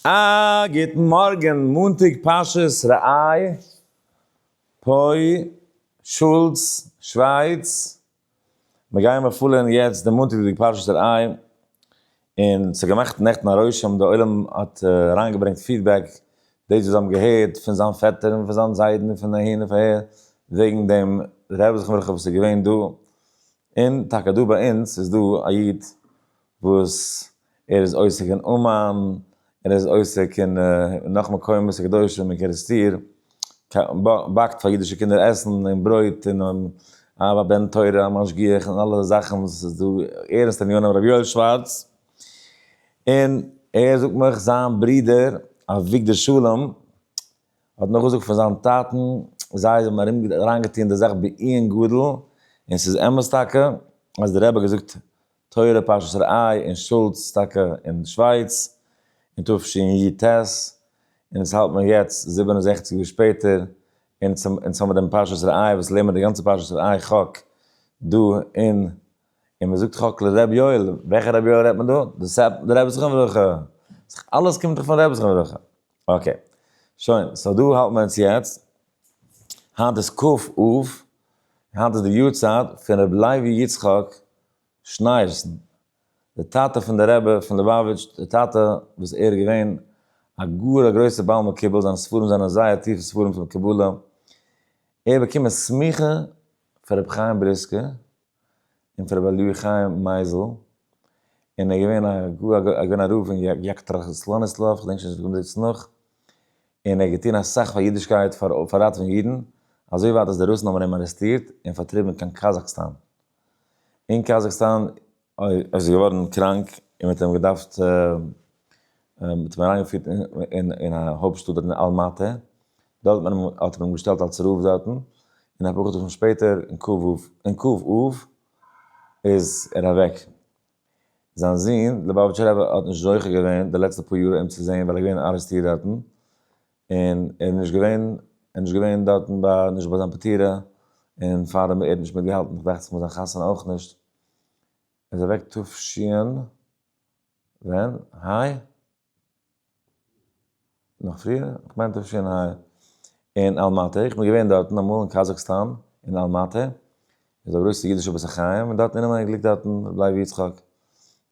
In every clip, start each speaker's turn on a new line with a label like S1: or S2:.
S1: א גוטן מארגען, מאנטאג פרשת רעי, פוי, שולץ, שווייץ, מיר גייען באפולען יעצט די מאנטאג'דיגע פרשת רעי, און ס'האט געמאכט נעכטן א רושם, די עולם האט אריין געברענגט פידבעק, דאס וואס זיי האבן געהערט פון זיין פעטער און פון זיין זיידן און פון אהין און פון אהער, וועגן דעם רעב זכרון לברכה וואס איז געווען דא, און טאקע דא ביי אונז איז דא א איד, וואס ער איז עוסק אין אומאן, ער איז עוסק אין נאך מקומות קדושים אין קערעסטיר, באקט פאר אידישע קינדער עסן און ברויט און אהבה בן תורה א משגיח און אלע זאכן וואס איז דא ערנסטע עניינים ר' יואל שווארץ, און ער זאגט מיך זיין ברודער אביגדור שלום האט מיך געזאגט פון זיין טאטן זיי האבן ארום אריינגעטון די זאך בעיון גדול און ס'איז אמת טאקע אז די רבי האט געזאגט תורה פרשת ראה אין שולץ טאקע אין שווייץ אין תשי י ט, און עס האלט מען יעצט זיבן און זעכציק יאר שפעטער אין אונז האבן דעם פרשת ראה וואס לערנט מען די גאנצע פרשת ראה חק דא אין און מען זאגט חק לר' יואל, וועלכע ר' יואל רעדט מען דא? דאס איז די רבי זכרון לברכה, אלעס קומט דאך פון רבי זכרון לברכה, אקעי שוין סאו דא האלט מען אונז יעצט, היינט איז כ א, היינט איז די יארצייט פון רבי לוי יצחק שנייערסן, דער טאטע פון דער רבי פון ליובאוויטש, דער טאטע וואס ער איז געווען א גאר א גרויסער בעל מקובל, זיינע ספרים זענען זייער טיפע ספרים פון קבלה, ער האט באקומען סמיכה פון רבי חיים בריסקער און פון רבי אליהו חיים מייזל, און ער איז געווען א גאר א געווען א רב אין יאקטראך סלאניסלאוו, איך געדענק שוין נישט וואו מען זעט עס נאך, און ער האט געטון אסאך פאר אידישקייט פאר ראטעווען אידן, אזוי ווייט אז די רוסן האבן אים ארעסטירט און פארטריבן קיין קאזאקסטאן. אין קאזאכסטאן איז ער געווארן קראנק און מ'האט אים געדארפט מ'האט אים אריינגעפירט אין א הויפט שטאט דארט אין אלמאטע, דארט האט מען אים האט מען אים געשטעלט אלס רב דארטן, און אפאר חדשים שפעטער אין ק ו אין ק ו איז ער אוועק. זיין זון, ליובאוויטשער רבי האט נישט זוכה געווען די לעצטע פאר יאר אים צו זען ווייל ער איז געווען ארעסטירט דארטן, און ער איז נישט געווען, ער איז נישט געווען דארטן ביי, נישט ביי זיין פטירה, און פאר אים, ער האט נישט מיטגעהאלטן, איך דאכט זיך מיט זיין חתונה אויך נישט, ער איז אוועק תשנ, ווען? היי? נאך פריער? כ'מיין תשנ ה, אין אלמאטע, איך בין געווען דארטן אמאל אין קאזאכסטאן, אין אלמאטע, איז א גרויסע אידישע בית החיים, און דארטן אינעם אייניקליק דארטן, ר' לוי יצחק,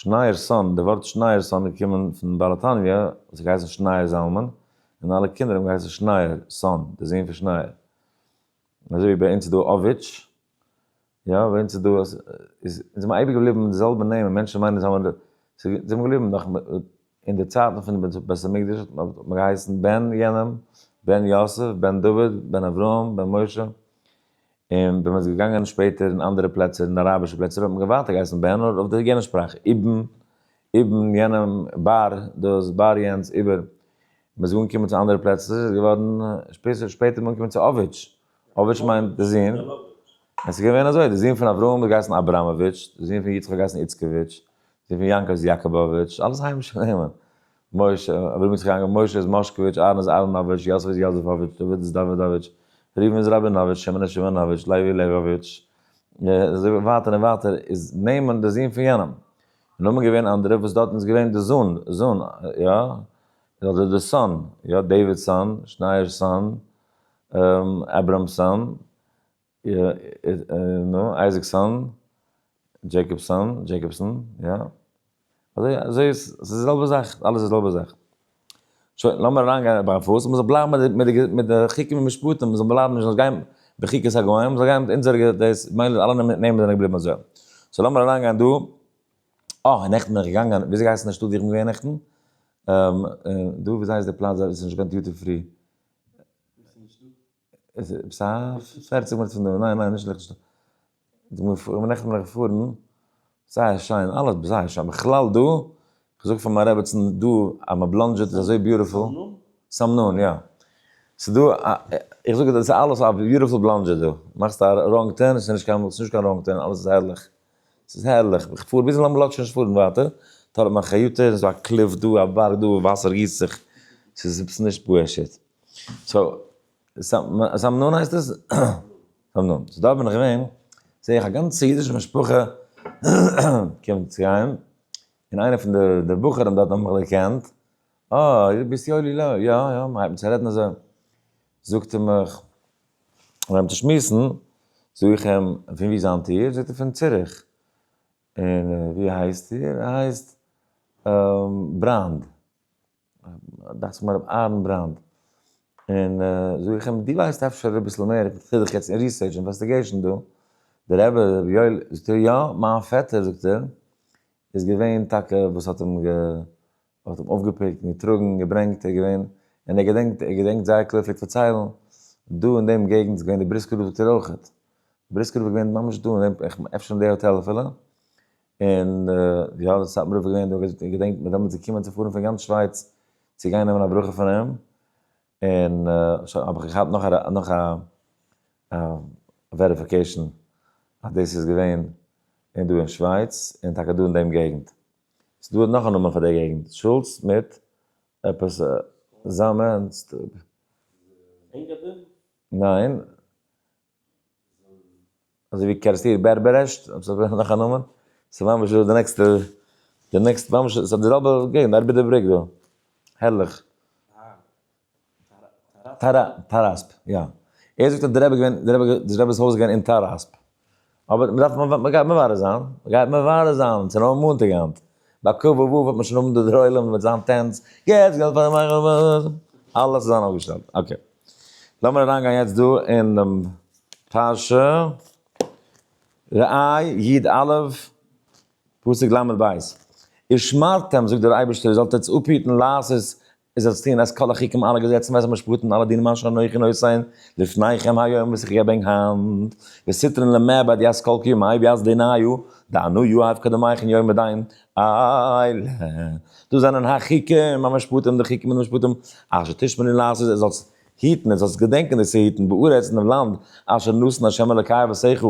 S1: שנייערסאָן, דער וואָרט שנייערסאָן איז געקומען פון בעל התניא וואָס האָט געהייסן שנייער זלמן, און אַלע קינדער האָבן געהייסן שנייער, סאָן, דער זון פון שנייער. און אַזוי ווי ביי אונז איז דאָ אָוויטש, יא, ביי אונז איז דאָ, אונז איז מען אייביג געבליבן מיט די זעלבע נעמען, מענטשן מיינען זיי האָבן, זיי זענען געבליבן נאָך אין די צייטן פון דעם בית המקדש האָט מען געהייסן בן יענעם, בן יוסף, בן דוד, בן אברהם, בן משה, און ווען מען איז געגאנגען שפעטער אין אנדערע פלעצער אין אראבישע פלעצער האט מען ווייטער געהייסן בער נאר אויף די יענע שפראך איבן איבן יענעם באר דאס באר יענץ איבער מען איז אנגעקומען צו אנדערע פלעצער איז געווארן שפעסער שפעטער איז מען אנגעקומען צו אוויטש אוויטש מיינט די זון עס איז געווען אזוי די זון פון אברהם האט געהייסן אבראמאוויטש די זון פון יצחק האט געהייסן איצקאוויטש די זון פון יעקב איז יאקאבאוויטש אלעס היימישע נעמען משה, אברהם יצחק יעקב, משה איז מאשקאוויטש, אהרן איז אהרנאוויטש, יוסף איז יאזעפאוויטש, דוד איז דאווידאוויטש, ראובן איז ראבינאוויטש, שמעון איז שמעונאוויטש, לוי איז לעוויוויטש, אזוי ווייטער און ווייטער, איז נעמען די זון פון יענעם. און נאמען געווען אנדערע וואס דארטן איז געווען די זון, זון, יא, אדער די סאן, יא, דעווידסאן, שנייערסאן, אברהמסאן, נו, אייזיקסאן, דזשעיקאבסאן, דזשעיקאבסאן, יא. אזוי אזוי איז, ס'איז די זעלבע זאך, אלעס איז די זעלבע זאך. שוין, לאמיר אריינגיין בארפוס, מ'זאל בלייבן מיט די מיט די מיט די חוקים און משפטים, מ'זאל בלייבן מ'זאל נישט גיין בחוקת הגוים, מ'זאל גיין מיט אונזערע דאס, מילא אלע נעמען זענען געבליבן אזוי. סאו לאמיר אריינגיין דא, אה, נעכטן בין איך געגאנגען, וויאזוי גייסט די שטאט ווי איך בין געווען נעכטן? דא, וויאזוי הייסט די פלאץ דארט ווי ס'איז נישט קיין דיוטי פרי? איז עפעס א פערציג מינוט פון דא, ניין ניין נישט ליכטנשטיין, די מ פ ווען מען רעכנט מיט מלכת פארן, זייער שיין, אלעס זייער שיין, בכלל דא, כ'זאג פאר מיין רעבעצן דא אז מען בלאנדזשעט איז אזוי ביוטיפול, סמנון יא, ס'דא א, איך זאג דאס איז אלעס א ביוטיפול בלאנדזשעט דא, מאכסט א ראנג טערן ס'איז נישט קיין, ס'נישט קיין ראנג טערן אלעס איז הערליך, ס'איז הערליך, איך פאר ביזן לאמבערלאד שוין נישט פארן ווייטער, טאלאפ מיין חיוטער, ס'דא א קליף דא, א בארג דא, וואסער גיסט זיך, ס'איז עפעס נישט פשוט. סאו, סאמנון הייסט עס? סאמנון. סאו דארט בין איך געווען, זע איך א גאנצע אידישע משפחה קומט צו גיין, און איינער פון די בחורים דארט האבן מיך דערקענט, אה, דו ביסט יואלי לוי, יא, יא, מ'הייבט אן צו רעדן אזוי, זאגט ער מיך, מיר הייבן צו שמועסן, זאג איך אים, פון וואו זענט איר? זאגט ער, פון ציריך. און ווי הייסט איר? ער הייסט בראנד. דאכט זיך מיין רבי אהרן בראנד, און זאג איך אים, דו ווייסט אפשר אביסל מער, איך טו זיך יעצט אין ריסערטש אינוועסטיגעישן דא, דער רבי רבי יואל, זאגט ער יא, מיין פעטער זאגט ער, איז געווען טאקע וואס האט אים האט אים אויפגעפיקט און געטראגן און געברענגט, ער איז געווען, און ער געדענקט ער געדענקט זייער קלאר פלעגט פארציילן, דא אין דעם געגנט איז געווען די בריסקער רב זאגט ער אויכעט, בריסקער רב איז געווען ממש דא, אפשר אין די האטעל אפילו, און יא די סאטמארע רב איז געווען דא איך געדענק מיר דעמאלטס געקומען צו פארן פון גאנץ שווייץ צו גיין נעמען א ברכה פון אים, און שוין האב איך געהאט נאך א נאך א וועריפיקעישן אז דאס איז געווען און דא אין שווייץ און טאקע דא אין דעם געגנט. ס'איז דא נאך א נאמען פאר די געגנט שולץ מיט עפעס זאמענס. אינגאדין? ניין. אזוי ווי קערעסטיר בערבערעשט, האט זיך געפונען נאך א נאמען, ס'איז ממש דא די נעקסטע, די נעקסטע ממש ס'איז די זעלבע געגנט ארבעט די בריק דא, הערליך. טאראס, טאראספ, יא. ער זאגט אז די רבי איז געווען, די רבי, די רבי'ס הויז איז געווען אין טאראספ. אבער מ'דארף, מ'גייט מברר זיין, מ'גייט מברר זיין, ס'איז נאר מאנטאג היינט. ביי ק ו וו וועט מען שוין האבן די דערוילעם מיט זיין טענץ, יעצט געלט פאר די מח ו, אלעס איז זיין אפגעשטעלט, אקעי. לאמיר אריינגיין יעצט דא אין דעם פרשה, ראה י ד א', פסוק ל' ב', ושמרתם, זאגט דער אייבערשטער, איר זאלט עטס אפהיטן לעשות, איר זאלטס טון את כל החוקים אלע געזעצן ואת המשפטים אלע דינים אשר אנכי נותן לפניכם היום וואס איך געב ענק היינט, וסתרין למעבד יעש כל קיום, אייב יעש דעיניו, דענו יאהב קדמיך אין יום הדין, אייל ה. דאס זענען החוקים המשפטים די חוקים און די משפטים אשר תשמור און לעשות אז זאלסט היטן און זאלסט געדענקען דאס צו היטן בארץ אין דעם לאנד אשר נתן ה' אלקיך אבותיך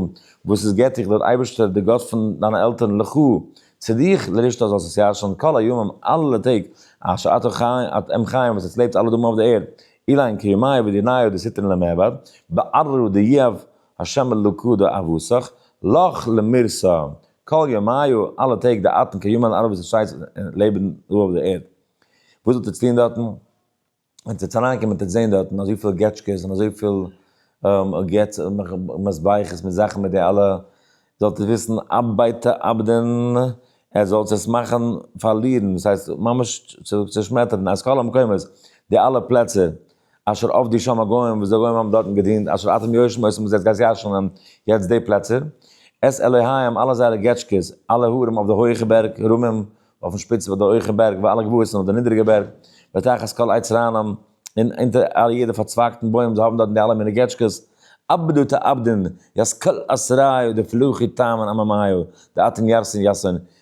S1: וואס איז געבט דיך דער אייבערשטער דער גאט פון דיינע עלטערן לך צו דיך לרשת אז זאלסט עס ירשען כל הימים אלע טעג אשר אתה חי אתה עם חיים וואס עטס לעבט אלע דאגן אויף דער ערד אילן כימיו ודיניו דאס היטן למעבד בעררו דיעב השם אלוקו דא אבסך, לך למרשא, כל ימיו, אלע טעג די אטעם קיין יומען ארבעט און שייסט און לעבן דא אויף די ערד. וואס וועט עטץ טון דארטן? ווען עטץ וועטס אריינקומען וועט עטץ זען דארטן אזויפיל געטשקעס און אזויפיל געץ מזבחות מיט זאכן מיט די אלע, זאלט עטץ וויסן אבי תאבדון, עטץ זאלטס עס מאכן פארלירן, דאס הייסט ממש צושמעטערן, אז כל המקומות, די אלע פלעצער, אשר עבדי שם הגוים וואס די גוים האבן דארטן געדינט אשר אתם יושבים אויס און וואס איר זענט גייט ישנ'ן יעצט די פלעצער את אלוהיהם אלע זייערע געטשקעס אלע הרים אויף די הויעכע בערג הרמים אויפן שפיץ פון די הויעכע בערג וואו אלע גבעות און אויף די נידעריגע בערג ותחת כל עץ רענן און אונטער אלע יעדע פארצווייגטן בוים זיי האבן דארטן די אלע מיני געטשקעס אבדו תאבדון יז כל אסריו דפלוחי טעם און עממיו דאתן ירסין יאסון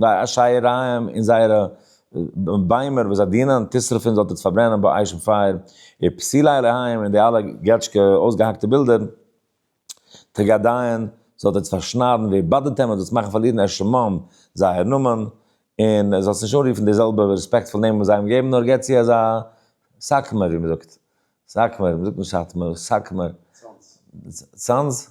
S1: די אשייריים און זייערע ביימער וואס זיי דינען תשרפין זאלט איצט פארברענען ביי אייך אין פייער, איר פסילי אלוהים און די אלע געטשקע אויסגעהאקטע בילדער טראגעדייען זאלט איצט פארשניידן ווי באדערט עמען דאס מאכן פארלירן ער שמים זייער נאמען, און זאלסט נישט אנרופן די זעלבע רעספעקטפול נעמען וואס זיי האבן געגעבן נאר גיב צו אזא סאקמער ווי מען זאגט סאקמער, מען זאגט נישט סאטמאר, סאקמער, צאנז.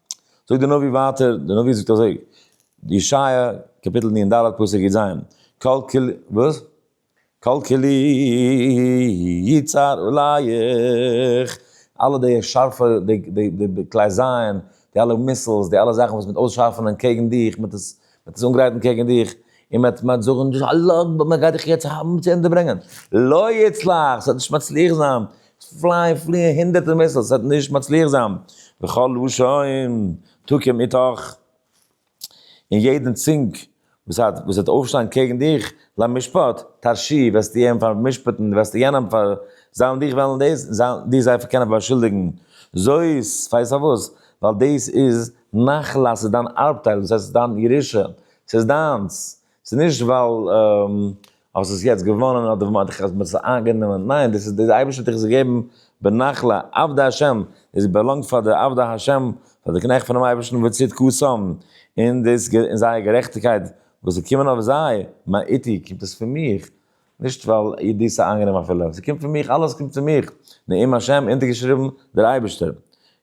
S1: זאגט די נביא ווייטער, די נביא זאגט אזוי, ישעיה קאפיטל נ ד פסוק י ז, כל כלי, וואס? כל כלי יצר עליך, אלע די שארפע, די די די כלי זיין, די אלע מיסילס, די אלע זאכן וואס מ'וועט אויסשארפענען קעגן דיך, מ'וועט עס מען האט עס אנגרייטן קעגן דיך, און מען וועט זאגן דאס א לאו, וואס מען גייט דיך יעצט האבן צו ענדע ברענגען, לא יצלח, ס'וועט נישט מצליח זיין, פליי פליען הונדערטער מיסילס, ס'וועט נישט מצליח זיין, וכל לשון תקום איתך, און יעדן צונג וואס וועט אויפשטיין קעגן דיך, למשפט, תרשיע, וועסטו איהם פאר'משפט'ן, וועסטו יענעם פאר, זיין דיך וועלן דאס, זיין דיך זיי קענען באשולדיגן, זאת, ווייסט פארוואס? ווייל דאס איז. נחלה אז ס'איז דיין ארבטייל, דאס הייסט ס'איז דיין ירושה, ס'איז דיינס, ס'איז נישט ווייל האסט עס יעצט געוואנען אדער ווייל מ'האט דיר עס איינגענומען, ניין, דאס איז די אייבערשטער האט דיך עס געגעבן בנחלה, עבדי השם, עס באלאנגט פאר די עבדי השם, פאר די קנעכט פונעם אייבערשטן וצדקתם, און זייער גערעכטיגקייט וואס איז געקומען אויף זיי, מה איתי, קומט עס פון מיך? נישט ווייל איר דאס איז איינגענעם אפילו, ס'קומט פון מיך, אלעס קומט פון מיך, נעים השם, אונטערגעשריבן, דער אייבערשטער,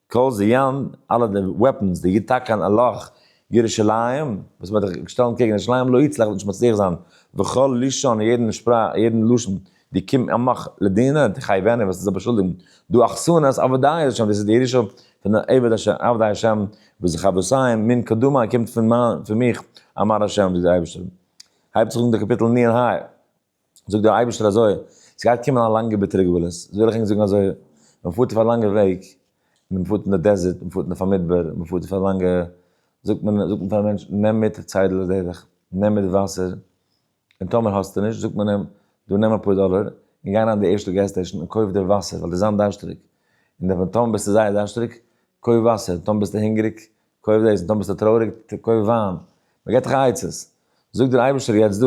S1: קהל זיון, אלע די וועפענס, די יתקן אלך, ירושלים, וואס מ'וועט זיך שטעלן קעגן ירושלים, לא יצלח, וועט נישט מצליח זיין, וכל לשון, יעדן שפראך, יעדן לשון, די קום עמך לדינא, תחייבני, וועסט זיך באשולדיגן, דו אכסנית עבדי השם, דאס איז די ירושה פון די עבד הש, עבדי השם, וואס די חבוסיי, מין קדמא, קומט פון מיין, פון מיך, אמר השם, זאגט דער אייבערשטער. הייבט זיך אן די קאפיטל מי און ה', זאגט דער אייבערשטער אזוי, ס'גייט קומען א לאנגע ביטערע גלות, איז וויל איך ענק זאגן אזוי, מען פארט אויף א לאנגע וועג, און מען פארט אין די דעזערט, מען פארט אין אויף א מדבר, מען פארט אויף א לאנגע, זאגט מען, זאגט מען פאר א מענטש, נעם מיט א ציידעלע לדרך, נעם מיט וואסער, און טאמער האסטו נישט, זאגט מען אים, דא נעם אפאר דאלער, און גיי אריין אין די ערשטע געז סטעישן און קויף דיר וואסער, ווייל דו זיין דארשטעריג, און טאמער ביסטו זייער דארשטעריג, קויף וואסער, טאמער ביסטו הונגעריג, קויף דאס און טאמער ביסטו טרויעריג קויף וויין, מען געבט דיך עצות, זאגט דיר דער אייבערשטער יעצט דא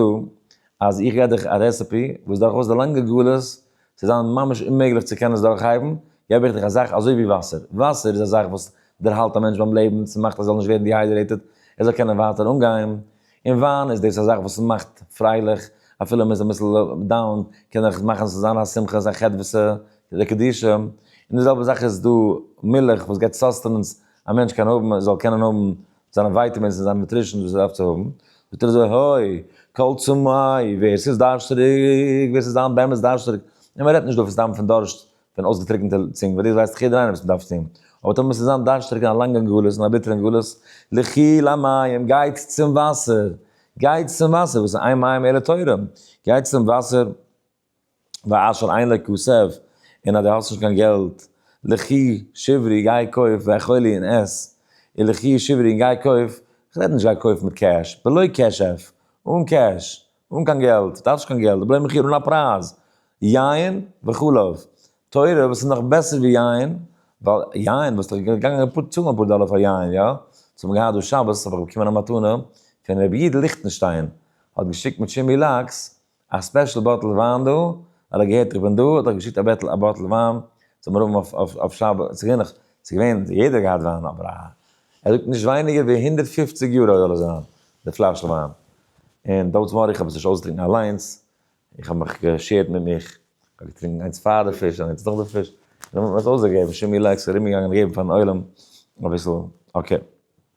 S1: אז איך גיב דיך א רעסעפי וואס דורכאויס די לאנגע גלות, ס'וועט זיין ממש אוממעגליך צו קענען עס דורכהייבן, געב איך דיך א זאך אזוי ווי וואסער, וואסער איז א זאך וואס דערהאלט א מענטש ביים לעבן, ס'מאכט ער זאל נישט ווערן דיהיידרעיטעד, ער זאל קענען ווייטער אנגיין, און וויין איז דאס א זאך וואס מאכט פרייליך, אפילו מען איז אביסל דאון קען איך מאכן עס זיין א שמחה, זיין חדוות'ע, די קדושה, און די זעלבע זאך איז דא מילך וואס געבט סאסטענענס א מענטש קען האבן, ער זאל קענען האבן זיינע ווייטעמינס און זיינע נוטרישענס וואס ער דארף צו האבן, זאגט ער אזוי הוי, קול צמאי, ווער ס'איז דארשטעריג, ווער ס'איז היינט באמת דארשטעריג, און מען רעדט נישט דא פון סתם פון דארשט, פון אויסגעטריקענטע צונג, וואס דאס ווייסט דאך יעדער איינער וואס מען דארף צו, אבער טאמער מ'איז היינט דארשטעריג אין א לאנגן גלות, אין א ביטערן גלות, לכי למים, גייט צום וואסער, גייט צום וואסער, וואס איז איין מים אלא תורה, גייט צום וואסער, ואשר אין לכסף, און אז דו האסט נישט קיין געלט, לכי שברי גיי קויף ואכולי און עס, און לכי שברי און גיי קויף, כ'רעד נישט גיי קויף מיט קעש, בלא כסף, אן קעש, אן קיין געלט, דארפסט נישט קיין געלט, די בלעם איך איר אן א פרייז, יין וכו', תורה וואס איז נאך בעסער ווי יין, ווייל יין וואלסט דאך געגאנגען אפאר צאלן אפאר דאלער פאר יין, יא? אונז האבן געהאט דא שבת האב איך באקומען א מתנה פון ר' איד ליכטנשטיין, האט געשיקט מיט שימי לאקס, א ספעשל באטל וויין דא, ווייל ער האט געהערט איך בין דא, האט ער געשיקט א בעטל א באטל וויין צום רבין אויף אויף אויף שבת, ס'איז געווען נאך, ס'איז געווען, יעדער האט געהאט וויין, אבער א, ער זאגט נישט ווייניגער ווי הונדערט פֿופֿציק יורא זאל עס זיין, די פלאשל וויין. און דאמאלס מאריך איך האב עס נישט אויסגעטרינקן אליינס, איך האב מיך געשערט מיט מיך, איך האב געטרינקן איינס פאר די פיש און איינס נאך די פיש, און דערנאך האט מען עס אויסגעגעבן, שימי לעקס ארומגעגאנגען געבן פארן עולם אביסל, אקעי.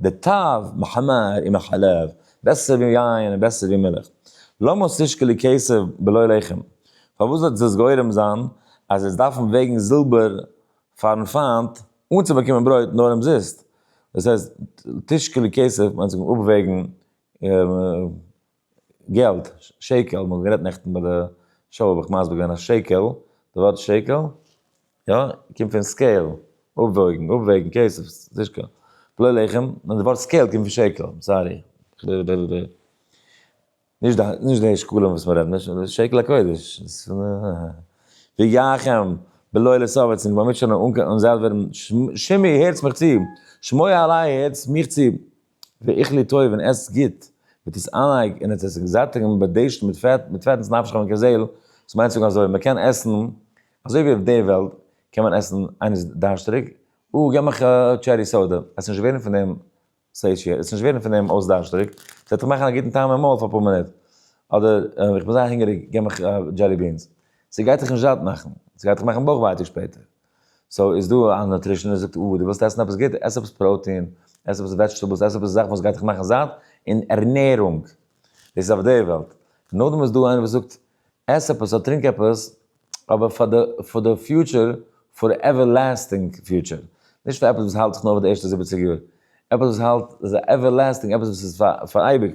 S1: די טב מחמר און מחלב, בעסער ווי יין און בעסער ווי מילך. למה תשקלי כסף בלא לחם, פארוואס וועט דאס גורם זיין אז זיי דארפן וועגן זילבער פארן פיינט אנצובאקומען ברויט נאר אומזיסט? דאס הייסט תשקלי כסף מיינט זיך אפוועגן. געלט, שקל, מ'האט גערעדט נעכטן ביי די שול האב איך מסביר געווען אז שקל, די ווארט שקל, יא, קומט פון סקעיל, אפוואויגן, אפוועגן, כסף, נישט קיין פלאי לחם, נאר די ווארט סקעיל קומט פון שקל, סארי, נישט די שקלים וואס מ'רעדט, נישט שקל הקודש, ויחם בלא לסוב עצמו, מ'מוז שוין אן זייט ווערן, שמעי הערטס מיך צו, שמעי אליי הערטס מיך צו. ואיך לי טוב און עסט גוט, מיט עס אײַנהײק און האָט עס זיך זאַטיקן און באַדערשטן מיט פֿעט, מיט פֿעטנס נפֿשך און כּזעל, דאָס מײנט צו זאָגן אַזױ, מע קען עסן, אַזױ װי אױף דער װעלט, קען מען עסן, אײנער איז דאַרשטעריק, אָ, גיב מיך אַ טשערי סאָדע, עס איז נישט װערן פֿון דעם סעיטשי, עס איז נישט װערן פֿון דעם אױס דאַרשטעריק, עס װעט דאָך מאַכן אַ גוטן טעם אין מױל פֿאַר אַ פּאָר מינוט, אָדער, איך בין זײער הונגעריק, גיב מיך אַ דזשעלי בינס, סע גײט דיך נישט זאַט מאַכן, סע גײט דיך מאַכן בױך װײטיק שפּעטער. סאו איז דא א נוטרישעניסט זאגט אה דו ווילסט עסן עפעס גוט, עס עפעס פראוטין, עס עפעס וועדזשטעבלס, עס עפעס זאכן וואס גייט דיך מאכן זאט אין ערנערונג, דאס איז אויף די וועלט, נאכדעם איז דא איינער וואס זאגט עס עפעס אדער טרינק עפעס אבער פאר די פאר די פיוטשער, פאר עווערלעסטינג פיוטשער, נישט פאר עפעס וואס האלט זיך נאר פאר די ערשטע זיבעציג יאר, עפעס וואס האלט זיך עווערלעסטינג, עפעס וואס איז פאר אייביג.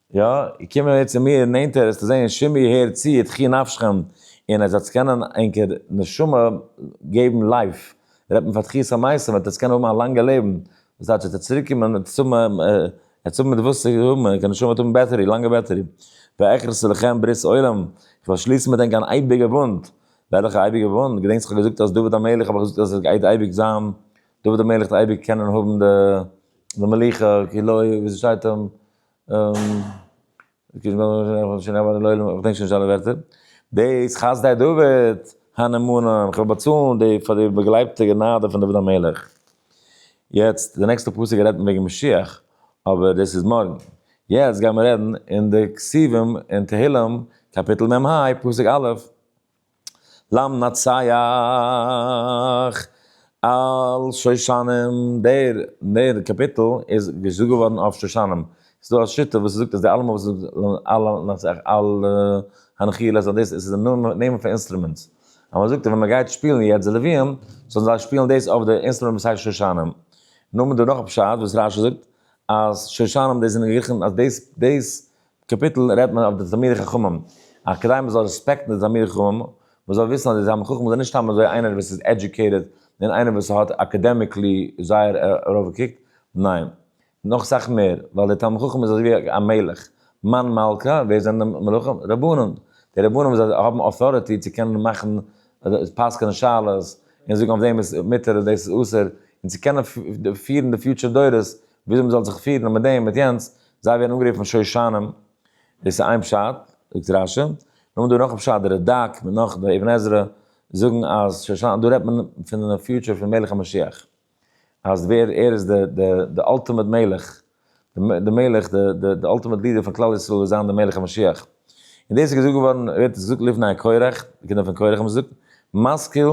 S1: יא, קומען אהער צו מיר נענטער עס צו זעהן, שמעי הער צו את חי נפשכם, און עס וועטס קענען ענקער נשמה געבן לייף, רעדט מען פאר תחיית המתים, וועט עס קענען האבן א לאנגע לעבן, דאס דייטש וועט עס צוריק קומען עס צו האבן, עס צו האבן מיט וואס צו האבן, די נשמה וועט האבן בעטערי, לאנגע בעטערי. ואכרס לכם ברית עולם, איך וועל שליסן מיט ענק אן אייביגע בונד, וועלעכע אייביגע בונד? געדענקסט איך האב געזאגט אז דוד המלך האב איך געזאגט אז עס גייט אייביג זיין, דוד המלך וועט אייביג קענען האבן די מלוכה כלאור ווי ס'שטייט אים. דאס חסדי דוד הנאמנים, איך וועל באצאלן די פאר די באגלייבטע גענאדע פון דוד המלך. יעצט די נעקסטע פסוק רעדט מען וועגן משיח, אבער דאס איז מארגן. יעצט גיימער רעדן אין די כתובים אין תהילים קאפיטל מ ה פסוק א'. למנצח על שושנים, דער דער קאפיטל איז געזאגט געווארן אויף שושנים, ס'איז דא א שיטה וואס זאגט אז די אלעמען וואס למנצח על הנחיל אז דאס איז די נעמען פון אינסטרומענטס, אז מען זאגט אז ווען מען גייט שפילן יעצט די לווים, זאלן זיי שפילן דאס אויף די אינסטרומענט וואס הייסט שושנים. נאר מען דא נאך א פשט וואס רשי זאגט אז שושנים דאס זענען גערעכנט אז דאס דאס קאפיטל רעדט מען אויף די תלמידי חכמים אז כדי מען זאל רעספעקטן די תלמידי חכמים מען זאל וויסן אז די תלמיד חכם איז נישט סתם אזוי איינער וואס איז עדיוקעיטעד און איינער וואס האט אקעדעמיקלי זייער ארויפגעקוקט ניין נאך סאך מער ווייל די תלמיד חכם איז אזויווי א מלך מאן מלכא ווער זענען די מלכים רבנים די רבנים זיי האבן אויטאריטי צו קענען מאכן פסק'נען שאלות און זאגן אויף דעם איז מותר און דאס איז אסור און צו קענען פירן די פיוטשער דורות וויאזוי מ'זאל זיך פירן מיט דעם מיט יענץ, זיי ווערן אנגערופן שושנים, דאס איז איין פשט, זאגט רש י, נאכדעם דא נאך א פשט, די רדק מיט נאך די אבן עזרא זאגן אז שושנים, דא רעדט מען פון די פיוטשער פון מלך המשיח, אז ווער ער איז די די די אלטימעט מלך, די מלך די די די אלטימעט לידער פון כלל ישראל וועט זיין די מלך המשיח, און דאס איז געזאגט געווארן, ווערט עס געזאגט לפני הקורח, די קינדער פון קורח האבן עס געזאגט, משכיל,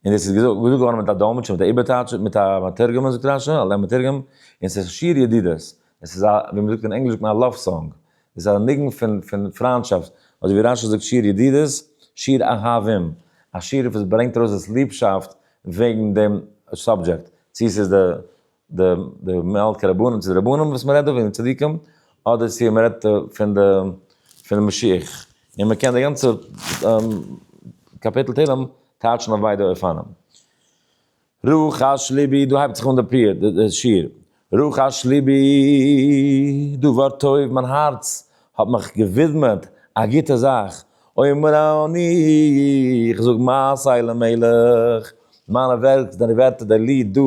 S1: און דאס איז געזאגט געווארן מיט א דאלמעטשער מיט א איבערטייטשער מיט א מתרגם און ס'געווען א שונא על המתרגם און ס'איז שיר ידידות עס איז א ווי מ'זאגט אין ענגליש זאגט מען א לאוו סאנג איז א ניגון פון פון פריינטשאפט אדער ווי רשי זאגט שיר ידידות שיר אהבים א שיר וואס ברענגט ארויס דאס ליבשאפט וועגן דעם סאבדזשעקט צו ס'איז די די די מלכי רבנים צו די רבנים וואס מען רעדט דא פון די צדיקים, אדער צו מען רעדט פון די פון די משיח, און מען קען די גאנצע קאפיטל תהלים טייטשן אויף ביידע אופנים. רחש ליבי, דא הייבט זיך אן די פיוט, די שיר, רחש ליבי דבר טוב, מיין הארץ האט מיך געווידמעט א גוטע זאך, אומר אני, איך זאג מעשי למלך, מיינע ווערק, די ווערטער, די ליד דא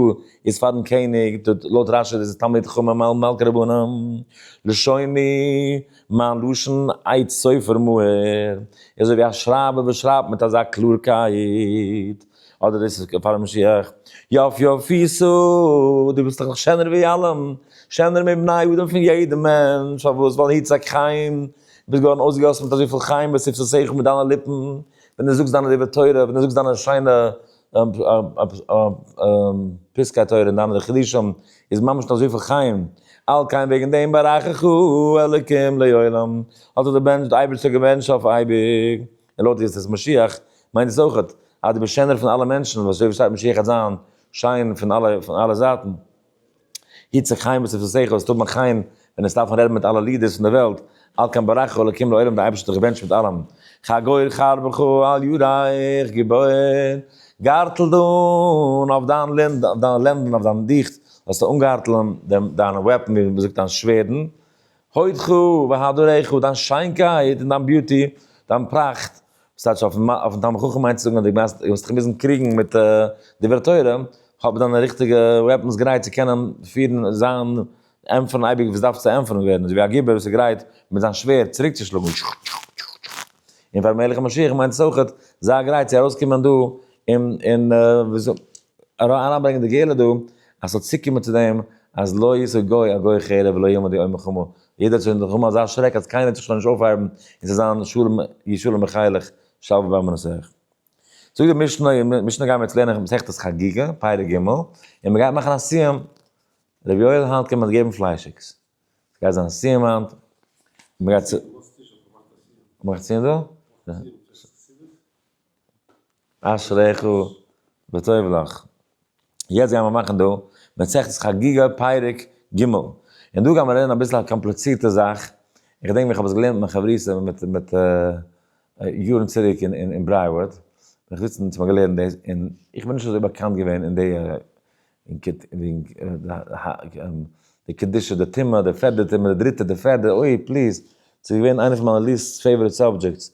S1: איז פארן קעניג, לויט רשי איז עס תלמיד חכמים מעל מלכי רבנים, לשוני, מיין לשון עצת סופר מהר, איז אזוי ווי א שרייבער וואס שרייבט מיט אזא קלארקייט, אדער דאס איז פאר משיח, יפ יפיסו, דו ביסט דאך נאך שענער ווי אלעם, שענער מבני אדם פון יעדע מענטש, פארוואס ווייל היצעק חיים. ביסט געווארן אויסגעגאסן מיט אזויפיל חיים וספסא שכל מיט דיינע ליפן, ווען דו זאגסט דיינע דברי תורה, ווען דו זאגסט דיינע שיינע פסקי תורה און דיינע חידושים, איז ממש דא אזויפיל חיים, על כן וועגן דעם ברכך אלקים לעולם, האט זיך דער אייבערשטער געבענטשט אויף אייביג, און לויט ווי עס איז משיח, מיינט דאס אויכעט אז דו ביסט שענער פון אלע מענטשן, וואס אזוי ווי שטייט משיח וועט זיין שיין פון אלע זייטן. יצחק חיים וואס איז פון שכל, עס טוט מיך חיים ווען עס דארפן רעדן מיט אלע לידערס פון די וועלט, על כן ברכו אלקים לעולם די אייבערשטער האט זיך געבענטשט מיט אלעם, חגור חרבך על ידייך גיבור, גארטל דאן אויף דיין לענד אויף דיינע לענדן אויף דיין דיך זאלסטו אנגארטלען דעם דיינע וועפן ווי מ'זאגט דיין שווערדן, הודך והדרך דיין שיינקייט און דיין ביוטי דיין פראכט, וואס טייטש אויפן אויפן תלמיד חכם מיינט צו זאגן אז די גייסט וועסט דיך מוזן קריגן מיט דברי תורה, האב דיינע ריכטיגע וועפנס גרייט צו קענען פירן זיין ענטפערן אייביג וואס דארף צו ענטפערן ווערן, אזוי ווי א גיבור וואס איז גרייט מיט זיין שווערד צוריק צו שלאגן טשח טשח טשח טשח, און פאר מלך המשיח מיינט עס אויכעט זיי גרייט צו ארויס קומען דא און און וויאזוי אריין ברענגען די גאולה דא אז ס'זאל צוקומען צו דעם אז לא ישא גוי א גוי חרב ולא יעמוד יום מלחמה יעדער האט שוין דערקומען אזא שרעק אז קיינער וועט זיך שוין נישט אויפהייבן און ס'וועט זיין שלום יהיה שלום בחילך שלווה בארמנותיך. זאגט די משנה, אין משנה גייען מיר יעצט לערנען מסכת חגיגה, פרק ג', און מ'גייט מאכן א סיום, ר' יואל היינט קען מען געבן פליישיגס, ס'גייט זיין א סיום היינט, מ'גייט צו. מ'מאכט א סיום דא? אשריך וטוב לך. יעצט גיימער מאכן דא מסכת חגיגה פרק ג, און דא גיימער לערנען אביסל א קאמפליצירטע זאך, איך געדענק ווען איך האב עס געלערנט מיט מיין חברותא מיט מיט יארן צירוק אין אין ברייוואד, בין איך זיצן און ס'האט מען געלערנט דאס, און איך בין נישט אזוי באקאנט געווען אין די און כ ט ווי די קדושה די טומאה די פערדע טומאה די דריטע די פערדע אוי פליז ס'איז געווען איינע פון מיינע ליסט פעיוואריט סאבדזשעקטס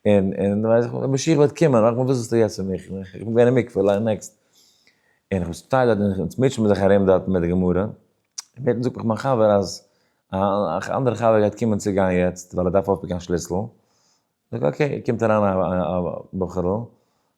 S1: און און ווייס איך ווען משיח וועט קומען מאך מיר וואס ווילסטו יעצט פון מיך איך בין געווען אין מקווה ליין נעקסט און איך שטיי דארט און אונז מוטשען מיר זיך ארום דארט מיט די גמרא און בעתן זאגט מיך מיין חבר אז א אנדערע חבר גייט קומען צו גיין יעצט ווייל ער דארף אויפפיקן א שליסל זאג אקעי קומט אריין א בחור'ל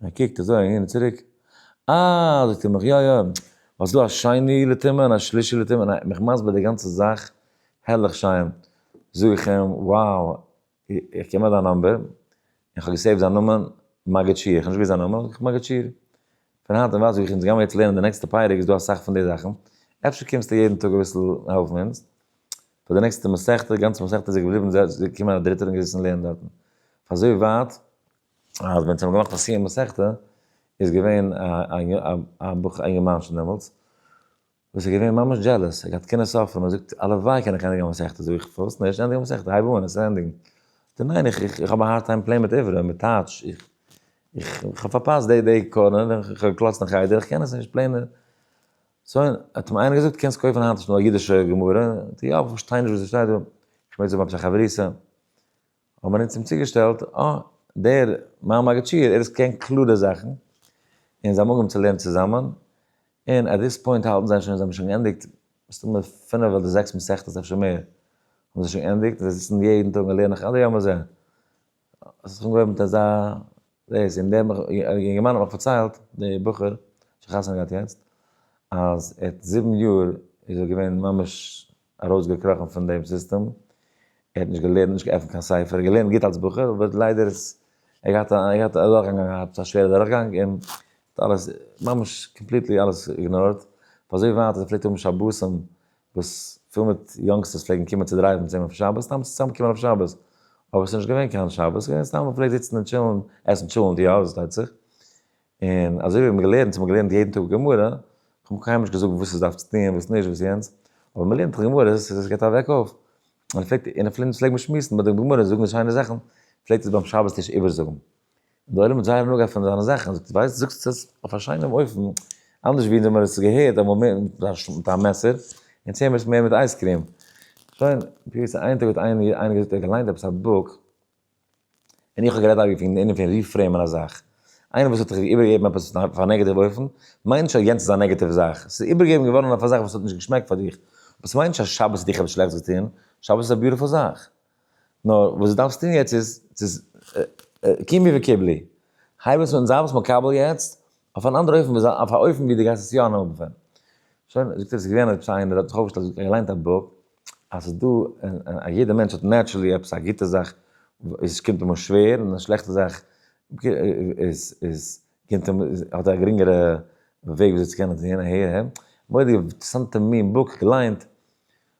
S1: און ער קוקט אזוי אהין און צוריק, אה! זאגט ער מיך, יא יא, האסט דא א שני לטומאה און א שלישי לטומאה, און ער האט מיך מסביר די גאנצע זאך הערליך שיין, זאג איך אים, wow, איך קען נאר דיין נאמבער, און איך האב געסעיווט זיין נאמען, מגיד שיעור, איך האב נישט געוואוסט זיין נאמען, זאג איך, מגיד שיעור, פון היינט און ווייטער זאג איך, אונז גיימער יעצט לערנען די נעקסטע פרק, איז דא אסאך פון די זאכן, אפשר קומסטו יעדן טאג אביסל העלפן אונז, פאר די נעקסטע מסכת, גאנצע מסכת איז ער געבליבן, ס'איז געקומען א דריטער און געזעצן לערנען דארטן, פון אזוי ווייט. אז ווען זיי האבן געמאכט א סיום מסכתא איז געווען א בחור א יונגערמאנטשן דעמאלטס וואס איז געווען ממש דזשעלעס ער האט געהאט קנאה אויף אים ער זאגט הלוואי קען איך ענדיגן א מסכתא זאג איך פארוואס נישט ענדיג א מסכתא הייב אן עס ענדיגן זאגט ער ניין איך איך האב א הארד טיים פלעין מיט עברי מיט טייטש איך איך האב פארפאסט די די קארנער איך האב געקלאצט אין חדר איך קען עס נישט פלעין סא האט אים איינער געזאגט קענסט קויפן היינט נישט נאר א אידישע גמרא יא איך פארשטיי נישט וואס עס שטייט דא איך מיין זיי האבן עפעס א חברותא האט מען אונז אים צוגעשטעלט, אה, דער מר מאגעטשיר, ער עס קען קלארע זאכן, און זיי מאגן צו לערנען צוזאמען, און עט דיס פוינט האלטן זיי שוין, זיי האבן שוין געענדיגט מסתמא פינף אדער זעקס מסכתות אפשר מער, האבן זיי שוין געענדיגט, און זיי זיצן יעדן טאג און לערנען עד היום הזה, האט זיך אנגעהויבן מיט אזא דאס, און דער יונגערמאן האט מיך פארציילט, דער בחור, שחתונה געהאט יעצט, אז עט זיבן יאר איז ער געווען ממש ארויסגעקראכן פון דעם סיסטעם, ער האט נישט געלערנט, נישט געעפנט קיין ספר, ער האט געלערנט גוט אלס בחור, אבער ליידער איז ער געהאט א, ער געהאט א דורכגאנג געהאט, א שווערע דורכגאנג, און האט אלעס, ממש קאמפליטלי אלעס איגנארט, פאר אזוי ווייט אז ער פלעגט האבן שבתים וואס פיל מיט יאנגסטערס פלעגן קומען צו דרייוון צו אים אויף שבת, סתם צו צוזאם קומען אויף שבת, אבער ס'איז נישט געווען קיין שבת, ס'איז געווען סתם מ'פלעגט זיצן און טשילן, עסן טשולענט, יא, דאס פארשטייט זיך, און אזוי ווי מיר האבן געלערנט, מיר האבן געלערנט יעדן טאג גמרא, איך האב מיך קיינמאל נישט געזארגט וואס איך דארף צו טון, וואס נישט, וואס יענץ, אבער מען לערנט גמרא, עס איז עס געבט א וועק אויף, און פלעגט און פון אונז פלעגט מען שמועסן ביי די גמרא, זאגן די שיינע זאכן, פלעגט עס ביים שבת טיש איבערזאגן, און די עולם האט זייער הנאה געהאט פון זיינע זאכן, זאגט ער, ווייסט, זאגסט עס אויף א שיינעם אופן, אנדערש ווי אונז האבן מיר עס געהערט אמאל מער מיט א מעסער, יענץ הערן מיר עס מער מיט אייזקריעם. שוין, פיוס, איין טאג האט איינער געזאגט, ער האט געליינט עפעס א בוק, ווען איך האב גערעדט האב איך געפינען אינעם פון ריפרעימען א זאך. איינער וואס האט זיך איבערגעגעבן עפעס אויף א נעגעטיוו אופן, מיינט נישט אז יענץ איז א נעגעטיוו זאך. עס איז איבערגעגעבן געווארן אויף א זאך וואס האט נישט געשמעקט פאר דיך. אבער עס מיינט נישט אז שבת האט דיך עפעס שלעכטס געטון. שבת איז א ביוטיפול זאך. נאר וואס דו דארפסט טון יעצט איז, קומי וקיבלי. הייב עס אן, זיי עפעס מקבל יעצט, אויף אן אנדער אופן ווי זיי, אויף א אופן ווי דו גייסט עס יא אננעמען בפנים. שוין, זאגט ער, ס'איז געווען עפעס איינער האט זיך אויפגעשטעלט און געליינט א בוק, אז ס'איז דא, א יעדער מענטש האט נעטשרעלי עפעס א גוטע זאך וואס קומט אים אן שווער, און א שלעכטע זאך איז, איז, קומט אים, האט ער א גרינגערע וועג וויאזוי צו קענען זעהן און הערן. מורא'דיגע אינטערעסאנטע מין בוק געליינט.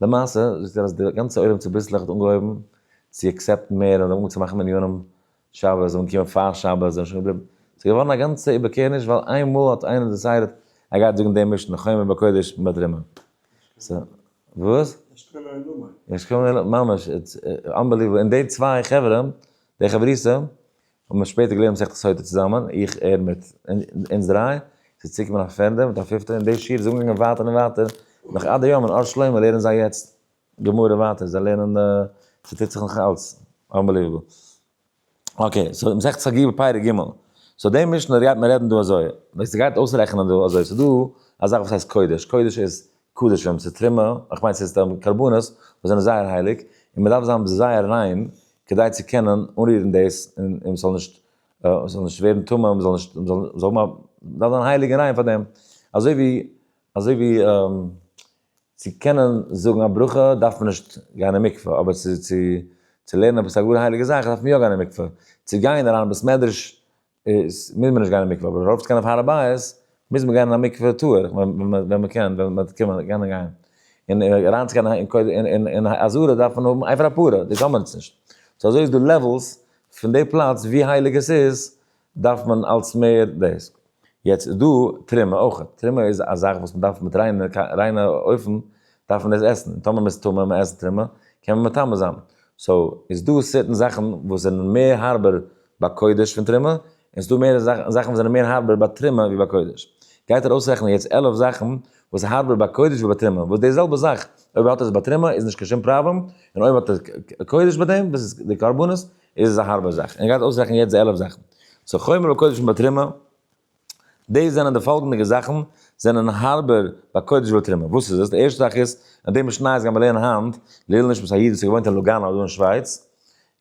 S1: למעשה זאגט ער אז די גאנצע עולם צוביסלעך האט אנגעהויבן צו עקסעפטן מער און זיי האבן אנגעהויבן צו מאכן מניינים שבת און קומען פאר שבת און שוין געבליבן. ס'איז געווארן א גאנצע איבערקערניש ווייל איין מאל האט איינער דעסיידעט ער גייט זאגן דעם משנה חומה בקודש מיט רימון. סא וואס? ממש איטס אנבעליוועבל און די צוויי חברה די חברותא האבן מיר שפעטער געלערנט מסכת סוטה צוזאמען, איך, ער מיט אונז דריי, ס'איז צוגעקומען א פערדע מיט א פיפטע, און די שיעור איז אנגעגאנגען ווייטער און ווייטער, נאך עד היום אין אור שלמה לערנען זיי יעצט גמרא ווייטער, זיי לערנען, ס'טוט זיך נאך אלץ, אנבעליוועבל. אקעי, סאו מסכת חגי' בפרק ג', סאו די משנה גייט מען רעדן דא אזוי, ווען ס'גייט אויסרעכענען דא אזוי, ס'דא א זאך וואס הייסט קודש, קודש איז קדשים צו תרומה, איך מיין ס'איז סתם קרבנות וואס זענען זייער הייליג, און מען דארף זיין זייער ריין כדי צו קענען אנרירן דאס און מען זאל נישט מען זאל נישט ווערן טמא מען זאל נישט מען זאל זאל האבן א זיין הייליג און ריין פאר דעם, אזוי ווי אזוי ווי צו קענען זאגן א ברכה דארף מען נישט גיין אין מקווה, אבער צו צו צו לערנען עפעס א גאר הייליגע זאך דארף מען יא גיין אין מקווה, צו גיין אריין אין בית מדרש איז מוז מען נישט גיין אין מקווה, אבער ארויף צו גיין אויף הר הבית, מוז מען גיין אין א מקווה טאר איך, ווען מען קען, ווען מען קען מען קען גיין, און אריין צו גיין אין קודש אין אזהרה דארף מען האבן עפר הפרה, דאס האבן מיר יעצט נישט, סאו אזוי איז דא לעוועלס, פון די פלאץ ווי הייליג עס איז, דארף מען אלס מער דאס, יעצט איז דא תרומה אויך, תרומה איז א זאך וואס מען דארף מיט ריינע ריינע אופן דארף מען דאס עסן, און טאמער מען איז טמא און מען עסט תרומה, קען מען מטמא זיין. סאו איז דא סערטען זאכן וואס זענען מער הארבער ביי קודש פון תרומה, און ס'איז דא מער זאכן וואס זענען מער הארבער ביי תרומה ווי ביי קודש. גייט איר אויסרעכענען יעצט עלף זאכן וואס איז הארבער ביי קודש ווי ביי תרומה, וואס די זעלבע זאך אויב האט ער עס ביי תרומה איז נישט קיין שום פראבלעם, און אויב האט ער קודש ביי דעם וואס איז די קרבנות איז עס א הארבע זאך, און גייט אויסרעכענען יעצט די עלף זאכן. סאו חומר ביי קודש און ביי תרומה. דאס זענען די פאלגענדיגע זאכן זענען הארבער ביי קודש ותרומה, וואס איז עס? די ערשטע זאך איז אז די משניות גייען מיר לערנען היינט לעיל נשמת א איד וואס האט געוואוינט אין לוגאנא דא אין שווייץ,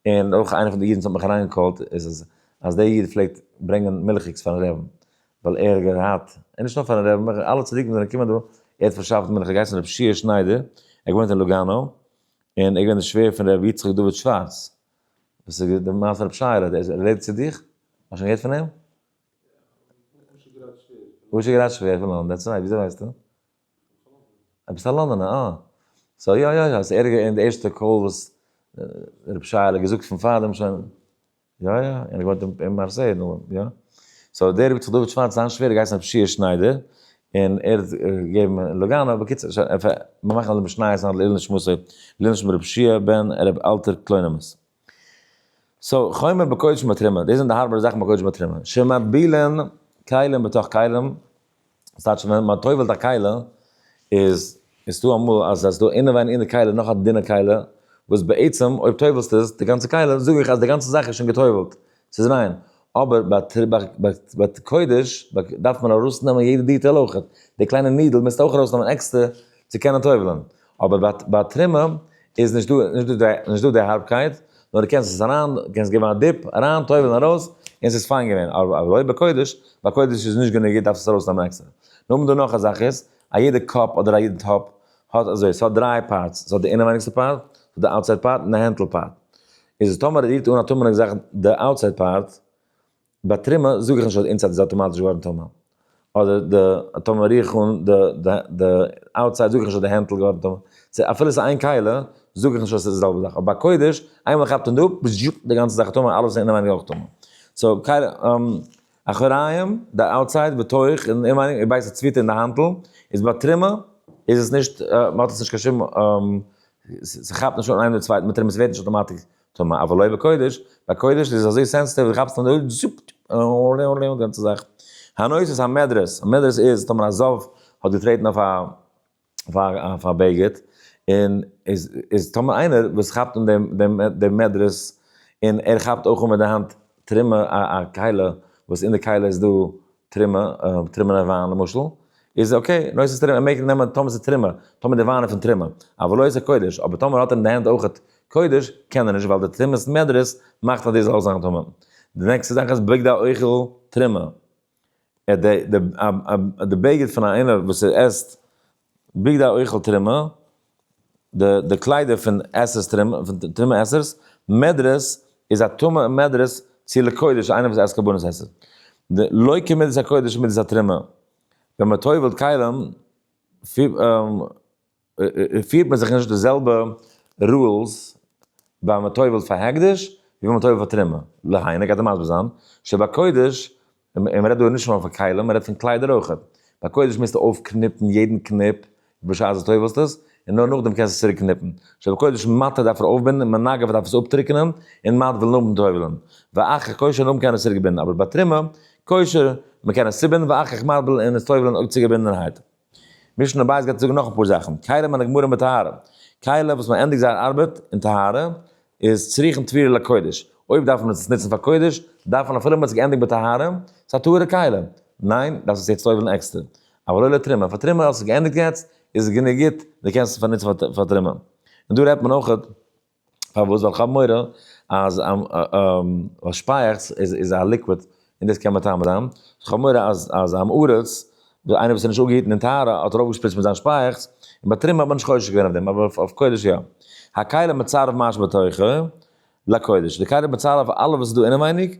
S1: און אויך איינער פון די אידן וואס האט מיך אריינגעקאלט איז עס אז דער איד פלעגט ברענגען מילכיגס פארן רעבין, ווייל ער האט געהאט, און נישט נאר פארן רעבין, אלע צדיקים וואס זענען געקומען דא, ער האט פארשאפט מילך, ער האט געהייסן ר' שיער שניידער, ער האט געוואוינט אין לוגאנא, און ער איז געווען דער שווער פון ר' יצחק דוד שווארץ, וואס איז די מעשה פון ר' שיירא, ער רעדט צו דיך? האסט שוין געהערט פון אים? וואס איז גראד שווער? וואס איז גראד שווער? כ'בין דעטס רייט, וויאזוי ווייסטו? א ביסל א לאנדאנע, אה. סאו יא יא יא, ס'ערגער אין די ערשטע קול וואס רבי שייעלע האט געזאגט פון פארדעם שוין. יא יא, ער האט געוואוינט אין מארסיי נו יא. סאו דער רבי צ דוד שווארץ זיין שווער האט געהייסן רבי שיע שניידער, און ער האט געגעבן אין לוגאנא, בקיצור שוין, מיר מאכן א משניות און א לעילוי נשמתו, לעילוי נשמת רבי שיע בן רבי אלטר קלוינימוס. סאו, חומר בקודש ובתרומה, דאס זענען די הארבערע זאכן בקודש ובתרומה. שמבילין כלים בתוך כלים, דאס טייטש ווען מען טובל'ט א כלה, איז איז דא אמאל אז ס'איז דא אינעווייניג אין די כלה נאך א דינע כלה, וואס בעצם אויב טובל'סטו עס, די גאנצע כלה, זאג איך אז די גאנצע זאך איז שוין געטובל'ט. ס'איז ריין. אבער ביי ת קודש דארף מען ארויסנעמען יעדע דיטעל אויכעט. די קליינע נידל מוזט אויך ארויסנעמען עקסטער צו קענען טובל'ען. אבער ביי תרומה איז נישט דא נישט דא די הארבקייט, נאר דו קענסט עס אריין, קענסט געבן א דיפ, אריין טובל'ען ארויס, און ס'איז פיין געווען. אבער לויט ביי קודש, ביי קודש איז נישט גענוג, דארפסט עס ארויסנעמען עקסטער. נאכדעם דא נאך א זאך איז, א יעדע קאפ אדער א יעדע טאפ האט אזוי, ס'האט דריי פארטס, ס'האט די אינעווייניגסטע פארט, ס'האט די אוטסייד פארט און די הענטל פארט. איז טאמער רירט אן א טומעל און געזאכט די אוטסייד פארט ביי טרימע זאג איך נישט אז די אינסייד איז אטאמאטיש געווארן טומעל אדער די טאמער ריר איך אן די די די אוטסייד זאג איך נישט אז די הענטל איז געווארן טומעל צו אפילו איז איין כלה זאג איך נישט אז עס איז די זעלבע זאך אבער ביי קודש איינמאל מען כאפט אן די אפ די גאנצע זאך איז טומעל אלעס אינעווייניג אויך טומעל סאו כלה. אחוריים, די אוטסייד, בתוך, און אינעווייניג, איר בייסט א צוויטע אין די האנטל, איז ביי טרימע איז עס נישט, מ'האט עס נישט קיין שום, ס'כאפט נישט אן איינעם די צווייטן, מיט טרימע ס'ווערט נישט אויטאמאטיק טמא, אבער לא בקודש, ביי קודש איז עס אזוי סענסעטיוו, כאפסט אן די הויט, זופ, די גאנצע זאך. הנושא המדרס, המדרס איז טאמער א זאב האט געטרעטן אויף א פאר פאר בגד, און איז איז טאמער איינער וואס כאפט אן דעם דעם דעם מדרס, און ער כאפט אויך אן מיט די האנט טרימה א א קיילה, וואס אין די קיילה איז דא טרימה, טרימענע וויין למשל, איז אקעי, נושא איז טרימה, ער מעג נעמען טאמער ס'איז טרימה, טאמער די וויין איז פון טרימה, אבל לא עושה קודש, אבער טאמער האט ער אין די הענט אויכעט קודש, קען ער נישט, ווייל די טרימת מדרס מאכט אז דו זאלסט זיין טמא. די נעקסטע זאך איז בגדי האוכל טרימה. ער האט די די א א א די בגד פון א איינער וואס ער עסט בגדי אוכל תרומה, די די קליידער פון עסערס תרומה פון תרומה עסערס, מעדרעס איז א טמא און מעדרעס צו לקודש איינער וואס עסט קרבנות עסער, די לא כמידת הקודש מידת התרומה, ווען מען טובל'ט כלים פ א. פירט מען זיך נישט די זעלבע רולס ביי מען טובל'ט פאר הקדש ווי ווען מען טובל'ט פאר תרומה, להיינו גייט ער מסביר זיין, שביי קודש, און מען רעדט דא נישט נאר פון כלים, מען רעדט פון קליידער אויך, ביי קודש מוזטו אויפקניפן יעדן קניפ בשעת די טובל'סט עס, און נאר נאכדעם קענסטו עס צוריק קניפן, שביי קודש מטה דארף ער אויפבינדן און מנגב דארף עס אפטריקענען און מטבל'ן נאכ'ן טובל'ן, ואחר כשר נאכדעם קען ער עס צוריק בינדן, אבער ביי תרומה, כשר, מען קען עס צובינדן ואחר כך מטבל'ן און עס טובל'ן אויב צוגעבינדענערהייט. משנה בית גייט זאגן נאך אפאר זאכן, כלה מהנגמרים בטהרה, כלה וואס מען ענדיגט זייער ארבעט אין טהרה איז צריכין טבילה לקודש, אויב דארף מען עס נוצן פאר קודש, דארף מען אפילו מען האט זיך געענדיגט בטהרה, ס'איז א טהורה כלה, ניין? דארפסט עס יעצט אויבן עקסטער, אבל לא לתרומה, פאר תרומה האסט עס געענדיגט יעצט, איז עס גענוג גוט, די קענסט עס פארנוצן פאר תרומה. און דא רעדט מען אויכעט. פארוואס ווייל כ'האב מורא אז שפייעכץ איז א ליקוויד און דאס קען מטמא זיין, כ'האב מורא אז אז עם הארץ, איינער וואס איז נישט אפגעהיטן אין טהרה האט ארויפגעשפריצט מיט זיין שפייעכץ, און ביי תרומה האט מען נישט חושש געווען אויף דעם אבער אויף אויף קודש יא. הכלה מצרף מה שבתוכה לקודש, די כלה איז מצרף אלעס וואס איז דא אינעווייניג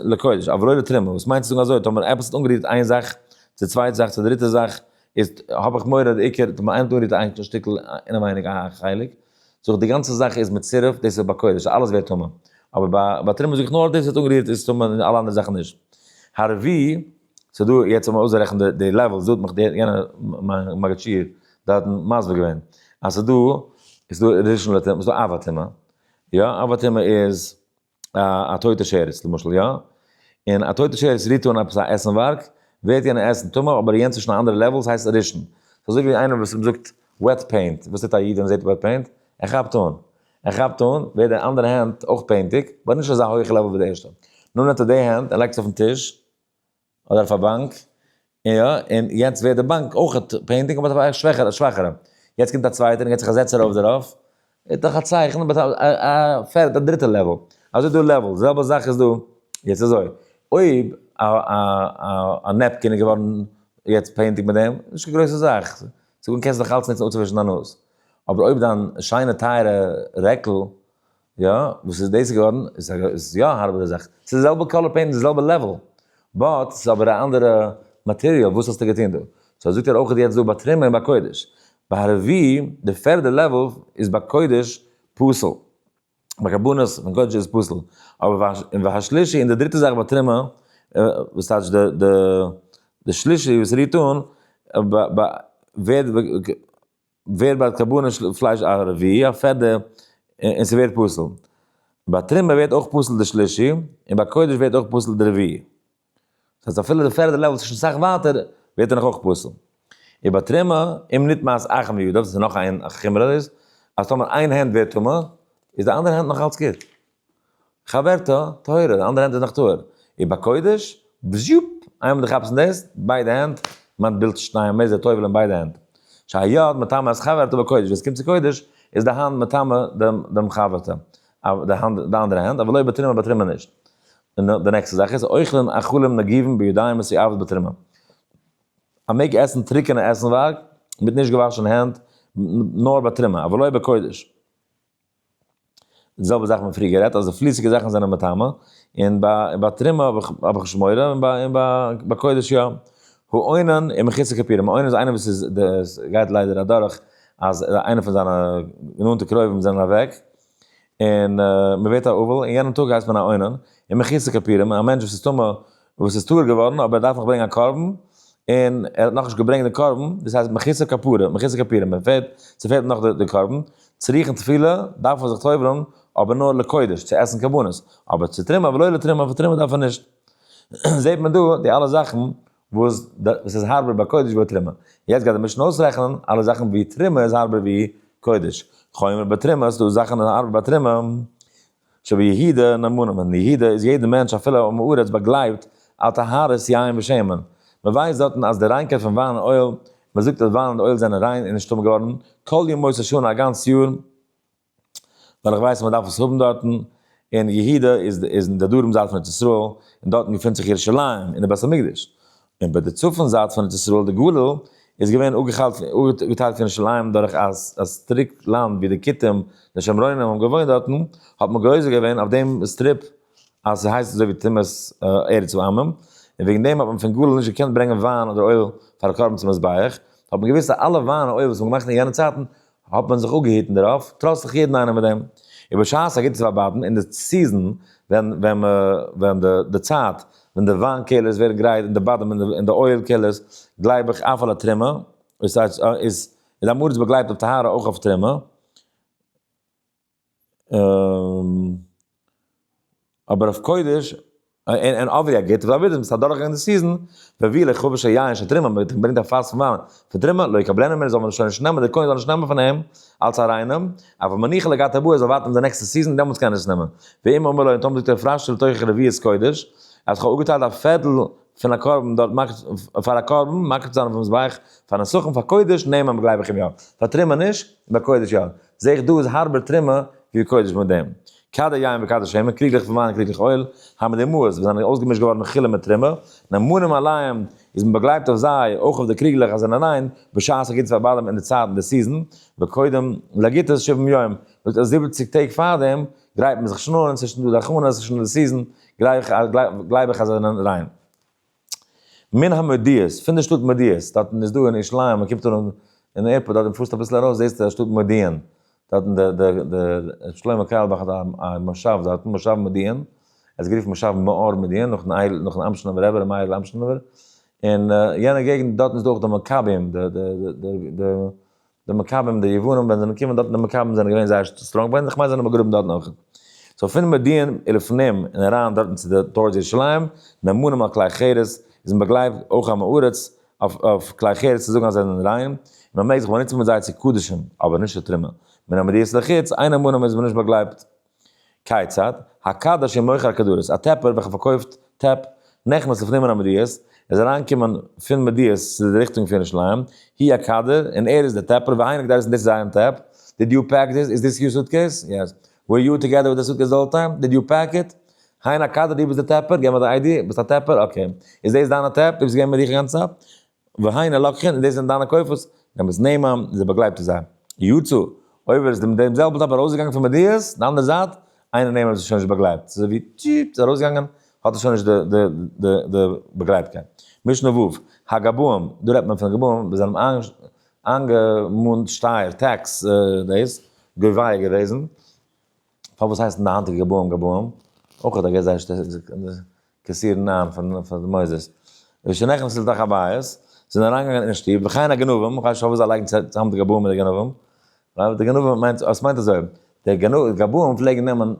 S1: לקודש, אבער לא לתרומה, וואס מיינט צו זאגן אזוי, טאמער עפעס האט אנגערירט איין זאך צו צווייטע זאך צו דריטע זאך, איצט האב איך מורא די עיקר טוט מען איין טאנית איין שטיקל אינעווייניג א חלק, זאג איך די גאנצע זאך איז מיט סירופ דאס איז ביי קודש אלעס ווערט טמא, אבער ביי ביי תרומה זאג איך נאר דאס וואס איז אנגערירט איז טמא און אלע אנדערע זאכן נישט. הרבי, ס'איז דא יעצט זאל מען אויסרעכענען די לעוועלס דא האט מיך די יענער מיין מגיד שיעור דארטן מסביר געווען אז ס'איז דא, ס'איז דא ראשון לטומאה, ס'איז דא אב הטומאה, יא אב הטומאה איז. א טויטע שרץ למשל יא? און א טויטע שרץ רירט אן עפעס א עסנווארג, ווערט יענע עסן טמא אבער יענץ איז שוין א אנדערע לעוול ס'הייסט רישן. ס'אזוי ווי איינער וואס מ'זאגט וועט פעינט, וואס טוט א איד ווען ער זעט וועט פעינט? ער כאפט אן. ער כאפט אן, ווערט די אנדערע הענט אויך פעינטיג, באט נישט אזא הויעכע לעוול ווי די ערשטע. נאר נעמט ער די הענט און לייגט עס אויפן טיש, אדער אויף א באנק, יא, און יעצט ווערט די באנק אויך פענדיג אבער אויף א שוועכערע, א שוואכערע, יעצט קומט א צווייטער און געט זיך א זעץ ארויף דערויף, איז דאך א צייכן אבער אויף א, א פערטע, א דריטע לעוועל, אזוי איז דא לעוועלס, די זעלבע זאך איז דא, יעצט אזוי, אויב א, א, א, א נעפקין איז געווארן יעצט פענדיג מיט דעם, נישט קיין גרויסע זאך, צו קענסט נאך אלץ ניצן אפצואווישן דיין נאז, אבער אויב דיין שיינע טייערע רעקל, יא, וואס איז דאס געווארן? איז עס יא א הארבערע זאך? ס'איז די זעלבע קאלער פעינט, די זעלבע לעוועל, באט ס'איז אבער א אנדערע מאטעריאל, וואס האסטו געטון דא? סאו זאגט ער אויך יעצט דא ביי טרימער און ביי קודש, ביי הארעווי די פערדע לעוועל איז ביי קודש פסול, ביי קארבאנעס פון קודש איז פסול, אבער ביי והשלישי און די דריטע זאך ביי טרימער, וואס טייטש די די די שלישי וואס רירט אן, ווערט. ווערט ביי קרבנות של פלייש א רביעי א פערדע און ס'ווערט פסול. ביי תרומה ווערט אויך פסול די שלישי און ביי קודש ווערט אויך פסול די רביעי. דאס הייסט אפילו די פערדע לעוועל וואס איז שוין סאך ווייטער ווערט ער נאך אויך פסול. און ביי תרומה אם נטמעת אחת מידיו דאס איז נאך איין חומרא איז אז טאמער איין הענט ווערט טמא איז די אנדערע הענט נאך אלץ גוט. חברתא טהורה, די אנדערע הענט איז נאך טהור, און ביי קודש, בזשופ! איינמאל דו כאפסט אין דאס, ביידע הענט, מיינט בילד שנייען מער די טובל אין ביידע הענט. שהיד מטמא את חברתא בקודש, ווען עס קומט צו קודש, איז די האנט מטמא דעם דעם חברתא, די האנט די אנדערע הענט, אבער לא בתרומה בתרומה נישט. און די נעקסטע זאך איז, אוכלים אכלים נגיבים בידיים מסואבות בתרומה. מען מעג עסן טרוקענע עסנווארג מיט נישט געוואשענע הענט נאר בתרומה, אבל לא בקודש. די זעלבע זאך מיר פריער גערעדט אז די פליסיגע זאכן זענען מטמא און ביי ביי תרומה האב איך האב איך נישט מורא און ביי און ביי קודש יא. האונן און מחיצה כפירה, האונן איז איינער וואס איז די גייט ליידער אדורך אז איינער פון זיינע נאנטע קרובים זענען אוועק און מען ווערט א אבל און יענעם טאג הייסט מען א האונן און מחיצה כפירה א מענטש וואס איז טמא וואס איז טהור געווארן אבער ער דארף נאך ברענגען א קרבן, און ער האט נאכנישט געברענגט די קרבן, דאס הייסט מחיצה כפרה, מחיצה כפירה, מען פעלט, ס'פעלט אים נאך די קרבן, צו ריחן תפילה דארף ער זיך טובל'ן, אבער נאר לקודש, צו עסן קרבנות, אבער צו תרומה ולא לתרומה, פאר תרומה דארף ער נישט. זעט מען דא די אלע זאכן וואס וואס איז הארבער ביי קודש ווי ביי תרומה. יעצט גייט די משנה אויסרעכענען אלע זאכן ווי תרומה איז הארבער ווי קודש. חומר ביי תרומה, ס'דא זאכן הארבער ביי תרומה, שביהודה אין אמונה, אין יהודה איז יעדער מענטש אפילו א עם הארץ באגלייבט על טהרת יין ושמן, מען ווייסט דארטן אז די ריינקייט פון וויין און אויל, מען זאגט אז וויין און אויל זענען ריין און נישטאמאל געווארן כל ימות השנה א גאנץ יאר, ווייל איך ווייס אז מען דארף עס האבן דארטן, און יהודה איז אין די דרום זייט פון ארץ ישראל, און דארטן געפינט זיך ירושלים און די בית המקדש, און ביי די צפון זייט פון ארץ ישראל די גליל איז געווען אפגעטיילט פון ירושלים דורך א סטריפ לאנד ווי די כותים די שומרונים האבן געוואוינט דארטן האט מען גוזר געווען אויף דעם סטריפ אז ס'זאל הייסן אזוי ווי תומת ארץ העמים און וועגן דעם האט מען פון גליל נישט געקענט ברענגען וויין אדער אויל פאר א קרבן צום מזבח האט מען געוואוסט אז אלע וויין און אויל וואס מ'האט געמאכט אין יענע צייטן האט מען זיך אפגעהיטן דערויף, טראץ זיך יעדן איינעם מיט דעם, און בשעת א גוטע צוויי באטן אין די סיזען, ווען ווען מע ווען די די צייט ווען די וויין קעלערס ווערן גרייט אין די באדעם אין די אין די אויל קעלערס, גלייב איך אויף אלע טרימע, איז איז איז די אמארץ באגלייבט אויף טהרה אויך אויף טרימע. אבער אויף קודש און אבי א גוטע אבי דעם סארט דורכגענג די סיזען ווען ווי לכה פ שוין יין שוין תרומה מען ברענגט א פלאסק פון וויין פון תרומה לא יקבלנה מען זאל מען שוין נישט נעמען די כהן זאל נישט נעמען פון אים אלץ א ריינעם אבער מניחה לגעת אבי ער זאל ווארטן די נעקסטע סיזען דעמאלטס קען ער עס נעמען ואם אומר לו און טאמער זאגט ער פרש של תוכח רביעית קודש אז כ'האב אפגעטיילט א פערטל פון א קרבן דארט מקריב פאר א קרבן מקריב צו זיין אויפן מזבח פאר נסכים פאר קודש נעמען גלייב איך אים יא פאר תרומה נישט אבער קודש יא. זע איך דא איז הארבער טרימע ווי קודש מיט דעם קאדער יין וקאדער שמן קריגלעך פון וויין קריגלעך אויל האבן די אמהות וואס זענען אויסגעמישט געווארן מחילה מיט טרימע נאמנים עליהם איז מען באגלייבט אויף זיי אויך אויף די קריגלעך אז זענען ריין בשעת ס'גוט פאר באלעם אין די צייט אין די סיזען וקודם להגיד את שבעים יום זאגט אז זיבעציג טעג פארדעם גרייט מען זיך שנארן ס'איז שוין דא די הכנות ס'איז שוין די סיזען גלייך גלייב איך אז זענען ריין. מן המודיעס, פון די שטאט מודיעס, דארטן איז דא אין ירושלים, מען קומט אן אין עירפארט דארט און פארסט אביסל ארויס זעסטו א שטאט מודיעין, דארטן די די די ר' שלמה קארלבאך האט א מושב דארטן, מושב מודיעין, עס איז גערופן מושב מאור מודיעין נאכן אייל נאכן אמשינאווער רבי ר' מאיר'ל אמשינאווער, און יענע געגנט דארטן איז דא אויך די מקבים די די די די די מכבים די יוונים ווען זיי זענען געקומען דארטן די מכבים זענען געווען זייער סטראנג ביי זיי כ'מיין זיי זענען באגראבן דארטן אויך. סאו פון מודיעין לפנים און אריין דארטן צו די טאורס ירושלים נאמנים על כלי חרס איז מען באגלייט אויך עם הארץ אויף כלי חרס צו זאגן אז זיי זענען ריין און מען מעג זיך באנוצן מיט זיי צו קדשים אבער נישט לתרומה. מן המדיעות לחוץ איינער מאנם איז מען נישט באגלייבט כיצד? הק' דאש איז מוכר כדורעס, א טעפער וועלכע פארקויפט טעפ, נכנס לפנימין המדיעות, איז אריינגעקומען פון מדיעות צו די ריכטונג פון ירושלים, הי א קאדער, און ער איז דער טעפער, ווי אייניג דארסטן דאס איז אייער טעפ? דיד יו פעק דיס? איז דיס יור סוטקעיס? יעס. ווער יו טוגעדער וויט די סוטקעיס די האול טיים? דיד יו פעק איט? הן הקאדער דו ביסט דער טעפער? געב מיר דיין איי די? ביסט א טעפער? אקעי. איז דאס דיינע טעפ? דו ביסט געווען מיט דיך די גאנצע צייט? והנה לקחין, און דאס זענען דיינע כופות, נעם עס נעמען, און זיי באגלייבט צו זיי. יצא, אויב ווער עס דעם דעם זעלבן טאג ארויסגעגאנגען פון מדות, די אנדערע זייט, איינער נעמען עס איז שוין נישט באגלייבט, ס'איז אזויווי טשיפ, ס'איז ארויסגעגאנגען, האט עס שוין נישט די די די די באגלייבטקייט. משנה ו', הגבאים, דא רעדט מען פון גבאים וואס זענען איינגעמאנט שטייער, טעקס, דאס, געוויי געוועזן. פאר וואס הייסן די היינטיגע גבאים גבאים? אויך האט ער געזעהן שטערן קעסירן ניין פון די מוסדות. רבי שנחמיה זל דאך א בית, זענען אריינגעגאנגען אינעם שטוב, וכן הגנבים, איך ווייס נישט פאר וואס זיי לייגן צוזאם די גבאים מיט די גנבים, ווייל די גנבים מיינט, עס מיינט אזוי, די גבאים פלעגן נעמען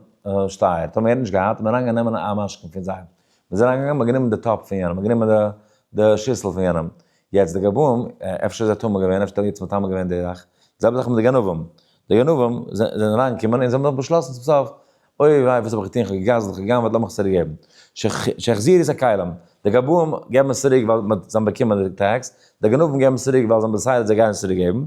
S1: שטייער, טאמער ער נישט געהאט, איז מען אריינגעגאנגען נעמען א משכון פון זיי, מען איז אריינגעגאנגען, מען האט גענומען די טאפ פון יענעם, מען האט גענומען די שיסל פון יענעם, יעצט די גבאים, אפשר איז ער טמא געווען, אפשר האט ער יעצט מטמא געווען די זאך, די זעלבע זאך מיט די גנבים, די גנבים זענען אריין געקומען און זיי האבן דאך באשלאסן צום סוף, אוי וויי וואס האב איך געטון, איך האב געגנב'ט, איך האב גע'גנב'עט, לאמיך עס צוריק געבן, שהחזיר את הכלים, די גבאים געבן עס צוריק ווייל זיי האבן באקומען די טעקס, די גנבים געבן עס צוריק ווייל זיי האבן דעסיידעט זיי גייען עס צוריק געבן,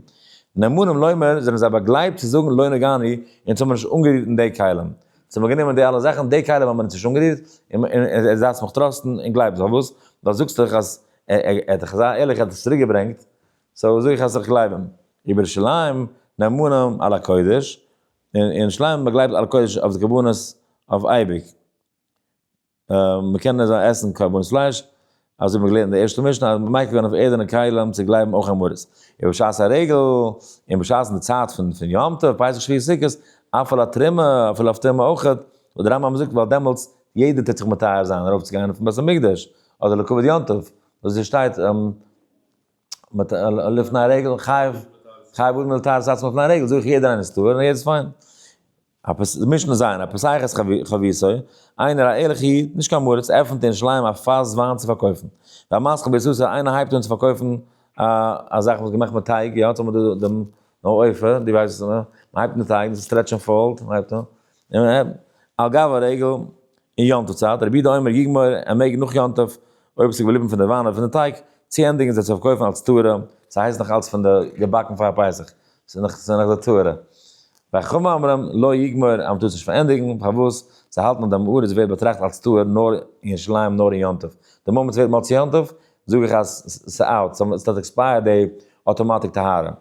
S1: נאמנים לומר זענען זיי באגלייבט צו זאגן לא נגעני, אונז האבן נישט אנגערירט אין די כלים, אונז האבן גענומען די אלע זאכן, די כלים האבן מיר נישט אנגערירט, און און און דארפסט מיך טראסטן, און גלייבסט, ווייל וואס? ווייל זאגסט דאך אז ער האט דאך אזא ערליכע האט עס צוריק געברענגט, סאו זאג איך אז איך גלייב אים. איבער ירושלים נאמנים על הקודש, אין ירושלים מען גלייבט על הקודש אויף די קרבנות אויף אייביג, מען קען אזוי עסן קרבנות פלייש, אזוי מען געלערנט אין די ערשטע משנה אז מען מייקר ווערן אויף ערדענע כלים צו גלייבן אויך אין מרות, איבער בשעת הרגל, און בשעת'ן די צייט פון פון יום טוב, פסח שביעי סוכות, אפעל א תרומה, אפילו אויף תרומה אויכעט, וואס די רמב ם זאגט ווייל דעמאלטס יעדער טוט זיך מטהר זיין ארויף צו גיין אויפן בית המקדש, אדער לקובד יום טוב, וואס דא שטייט מיט לפני הרגל חייב חייב און מיל טאר זאצן לפני הרגל, זאג איך יעדער איינער איז טהור און יעדער איז פיין. א פס די משנה ז', א פסחת חביסו, איינער א ערליכע איד, נישט קיין מרת, עפענט אין שליים א פאס וויין צו פארקויפן. א מסחר בסוסה, איינער הייבט אן צו פארקויפן א א זאך וואס געמאכט מיט טייג, יא, האט אמאל דא דעם נאר עופר, דו ווייסט וואס איך מיין, מ'הייבט מיט טייג, ס'טרעט שוין פאלט, מ'הייבט אן. על גב הרגל אין יום טוב צייט, רבי יהודה אומר יגמור ער מעג נאך יום טוב אויב עס איז געבליבן פון די וויין און פון די טייג צו ענדיגן זיי צו פארקויפן אלס תורה, ס'הייסט נאך נאך אלס פון די געבאקן פאר פסח, ס'איז נאך ס'איז נאך די תורה. והחכמים אומרים לא יגמור אז מ'טאר עס נישט פארענדיגן, פארוואס? זיי האלטן אז די מעור איז ווערט באטראכט אלס תורה נאר אין ירושלים נאר אין יום טוב, די מאמענט ס'ווערט מאל צו יום טוב זאג איך אז ס'אוט, ס'האט עקספייערט די אוטומאטיק טהרה,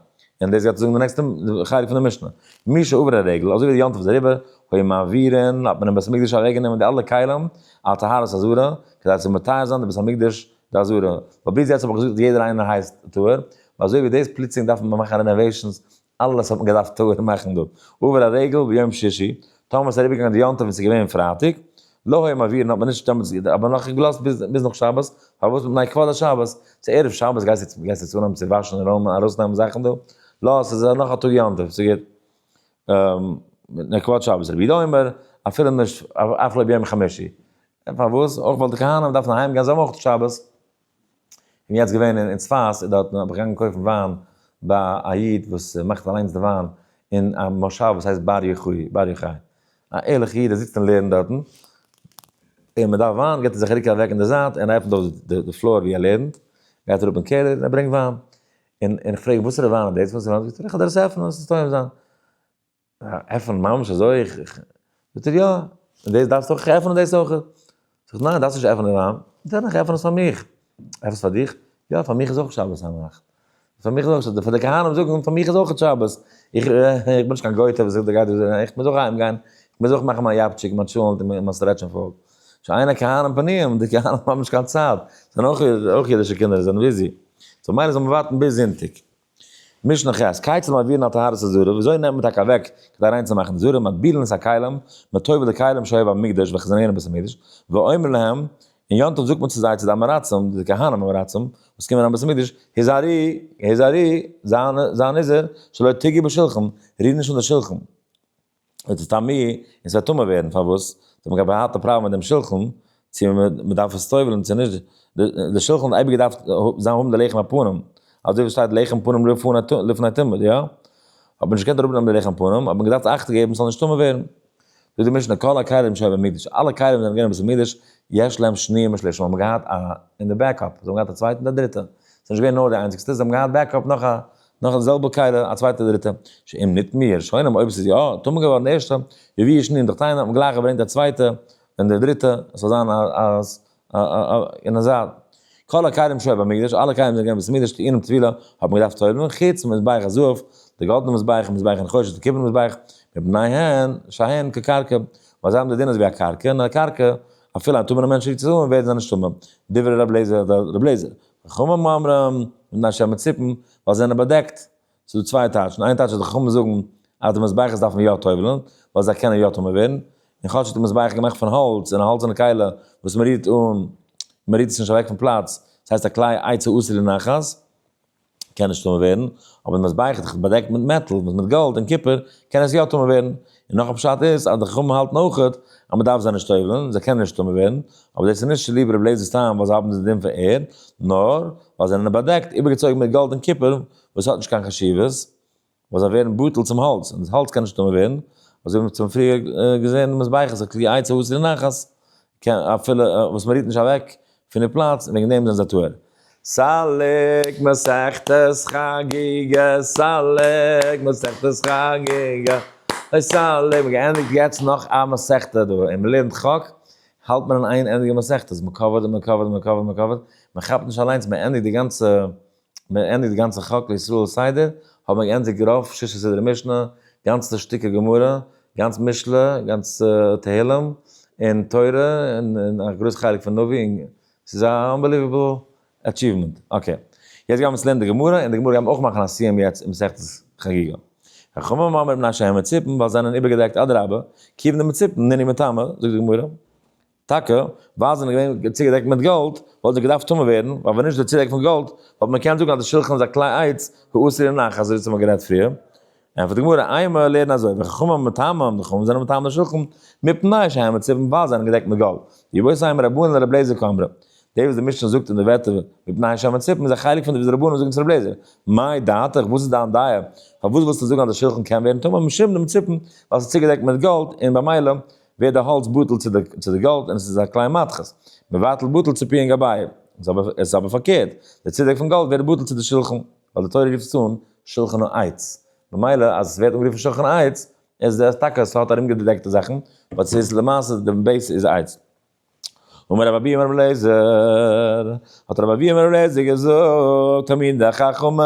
S1: און דאס גייט צוזאגן די נעקסטע חלק פון די משנה, מי שעבר הרגל, אזוי ווי די יום טוב איז אריבער, היו מעבירין, האט מען אין בית המקדש אוועקגענומען די אלע כלים על טהרת הזרע, כדי צו מטהר זיין די בית המקדש די זרע, ווייל ביז יעצט האב איך געזאגט אז יעדער איינער הייסט טהור, אזוי ווי דאס פלוצלינג דארף מען מאכן רענאוועישאנס אלעס האט מען געדארפט טהור מאכן דארט, עובר הרגל ביום שישי, טאמער עס איז אריבערגעגאנגען די יום טוב וואס איז געווען פרייטאג, לא היה מעבירין האט מען נישט טאמער עס האט מען נאך געלאזט ביז נאך שבת, פארוואס מפני כבוד השבת, צו ערב שבת גייסטו גייסטו צו אנהייבן צו וואשן און רוימען ארויסנעמען זאכן דא, לא עס איז נאך א טאג יום טוב, ס'איז גוט מפני כבוד שבת, רבי יהודה אומר אפילו נישט אף לא ביום חמישי, פארוואס אויך ווייל די כהנים דארפן אהיים גיין זיי האבן אויך שבת. און יעצט געווען אין צפת איז דארט האב איך געגאנגען קויפן וויין ביי א איד וואס מאכט אליינס די וויין אין א מושב וואס הייסט באר יוחאי באר יוחאי א ערליכע איד ער זיצט און לערנט דארטן און מען דארף וויין געט ער זיך א רוק אוועק אין די זייט און ער עפנט אויף די פלאר ווי ער לערנט גייט אראפ אין קעלער און ער ברענגט וויין און איך פרעג וואסערע וויין איז דאס וואס ער האט זאגט ער איך האב דאס עפענען עס איז טועם זיין. עפענען ממש אזוי? זאגט ער יא, און דאס דארפסטו אויך עפענען דאס אויך? זאג איך ניין, דארפסט נישט עפענען דיין, דען איך עפען עס פאר מיך, עפעס פאר דיך? יא, פאר מיך איז אויך שבת היינט, פאר מיך איז אויך שבת, פאר די כהנים זאגן פאר מיך איז אויך שבת, איך בין נישט קיין גויטע וואס זאגט דער גייט אזוי, איך מוז אויך אהיים גיין, איך מוז אויך מאכן מיין יאפטשיק, מיין טשולענט, מיין סטרעטש און פאלג, שיינע כהנים פנים, די כהנים האבן נישט קיין צייט, זענען אויך אידישע קינדער, זענען ביזי, סאו ממילא זאל מען ווארטן ביז זונטאג. משנה ח', קייצעלן מעבירין על טהרת הזרע, וויאזוי נעמט מען טאקע אוועק כדי ריין צו מאכן די זרע, מטבילין את הכלים, מען טובל'ט די כלים שהיו במקדש וועלכע זענען געווען אין בית המקדש, ואומר להם, און יום טוב זאגט מען צו זיי צו די אמורצים, די כהנים אמורצים, וואס קומען אריין בית המקדש, הזהרי, הזהרי, זיי נזהר, שלא תגעו בשלחן, ריר נישט אן די שלחן. איז עס טמא און ס'וועט טמא ווערן, פארוואס? זיי האבן געהאט א הארטע פראבלעם מיט דעם שולחן, צו מען דארף עס טובל'ן צו נישט, די שולחן האט אייביג געדארפט זיין האבן די לחם הפנים, אזוי ווי ס'שטייט לחם פנים לפני תמיד, יא? האט מען נישט געקענט אראפנעמען די לחם פנים, האט מען געדארפט אכט געבן ס'זאל נישט טמא ווערן. זאגט די משנה כל הכלים שהיו במקדש, אלע כלים וואס זענען געווען אין בית המקדש, יש להם שניים ושלישים, האבן געהאט א, אין די בעקאפ, זיי האבן געהאט א צווייטן און א דריטע, ס'איז נישט געווען נאר די איינציגסטע, זיי האבן געהאט בעקאפ נאך א נאך די זעלבע קהלה א צווייטע דריטע, שאם ניט מיר שונאים אויב עס איז יא טמא געווארן די ערשטע, ווי ווי ישנין דאך טענה'ן האט מען גלייך געברענגט די צווייטע און די דריטע עס זאל זיין אז און אזא כל הכלים שהיו במקדש אלע כלים זענען געווען אין בית המקדש טעינים טבילה האט מען געדארפט טובל'ן חוץ מזבח הזהב די גאלדענע מזבח און מזבח הנחושת און קופערנע מזבח מפניהן שהן כקרקע ווייל זיי האבן די דין אז ווי א קרקע און א קרקע אפילו א טמא'נע מענטש רירט עס אן ווערט זיי נישט טמא דברי רב לעזער רב לעזער חכמים אומרים, מן השם מיט ציפן, ווייל זיי זענען באדעקט. ס'איז דא צוויי טייטשן, איין טייטש אז די חכמים זאגן אז די מזבחות דארפן יא טובל'ן, ווייל זיי קענען יא טמא ווערן, און כאטש איז די מזבח געמאכט פון האלץ, און א האלצענע קיילה וואס מען רירט אן, מען רירט עס נישט אוועק פון פלאץ, ס'הייסט א כלי עצה אסור לנחת, קען נישט טמא ווערן, אבער די מזבח איז דאך באדעקט מיט מעטאל, מיט גאלד און קופער, קען עס יא טמא ווערן. און נאך א פשט איז אז די חכמים האלטן אויך אז מען דארף זיי נישט טובל'ן, זיי קענען נישט טמא ווערן, אבער דאס איז נישט צוליב רבי לעזער'ס טעם ווייל זיי האבן די דין פון ערד, נאר ווייל זיי זענען באדעקט, איבערגעצויגן מיט גאלד און קופער, וואס האט נישט קיין חשיבות, ווייל זיי ווערן בטל צום האלץ, און דאס האלץ קען נישט טמא ווערן, אזוי ווי מ'האט שוין פריער געזען אין מזבחות הקריעה עצה האסיר נחת, קען אפילו וואס מען רוהט נישט אוועק פון די פלאץ און וועגן דעם זענען זיי טהור. סלק מסכת חגיגה סלק מסכת חגיגה אוי סלק מען געענדיגט יעצט נאך א מסכתא דא און מען לערנט חק האלט מען אין איין ענדיגע מסכתא מען קאווערט און מען קאווערט און מען קאווערט און מען קאווערט מען כאפט נישט אליינס מען ענדיגט די גאנצע מיר האבן געענדיגט די גאנצע חק לישראל סדר, האבן מיר געענדיגט רוב שישה סדרי משנה, גאנצע שטיקער גמרא, גאנץ משלי, גאנץ תהלים, און תורה, און א גרויס חלק פון נביא, און ס'איז א אנבעליוועבל עטשיוומענט. אקעי. יעצט גייען מיר צו לערנען די גמרא, און די גמרא גייען מיר אויך מאכן א סיום יעצט אין מסכת חגיגה. חכמים מאמרים נשי המצופים, ווייל זיי זענען איבערגעדעקט אדרבה, קיוו די מצופים, נני מטעמא, זאגט די גמרא, טאקע ווייל זיי זענען געווען צוגעדעקט מיט גאלד, וואלט זיי געדארפט טמא ווערן, ווייל ווען נישט די צודעק פון גאלד, וואלט מען געקענט זאגן אז די שלחן איז א כלי עץ, האסור אין נח, אזוי ווי עס האט מען גערעדט פריער. ענטפערט די גמרא, איי מיר לערנען אזוי, ווען חכמים האבן מטמא, האבן די חכמים זענען מטמא די שלחן, מפני שהם מצופים, ווייל זיי זענען געדעקט מיט גאלד. ווי אויך זיי האבן רבנן און רבי אליעזר כאמרא. די וואס די משנה זאגט אין די ווערטער מפני שהם מצופים איז א חלק פון די וואס די רבנן זאגן צו רבי אליעזר, מאי דעתך, וואס איז דיין דעה, פארוואס ווילסטו זאגן אז די שלחן קען ווערן טמא משום די מצופים, ווייל עס איז צוגעדעקט מיט גאלד, און במילא ווערט די האלץ בטל צו די גאלד און עס איז א קליין מדחת, מבטל בטל צו פיהן גבאים, עס איז אבער פארקערט, די צדק פון גאלד ווערט בטל צו די שולחן, ווייל די תורה רופט עס אן שולחן העץ, ממילא אז עס ווערט אנגערופן שולחן העץ, איז עס טאקע עס האט ארומגעדעקטע זאכן, באט עס איז למעשה די בעיס איז העץ. אמר רב אביהמר רב אליעזר, האט רב אביהמר רב אליעזר געזאגט, המיד החכמים,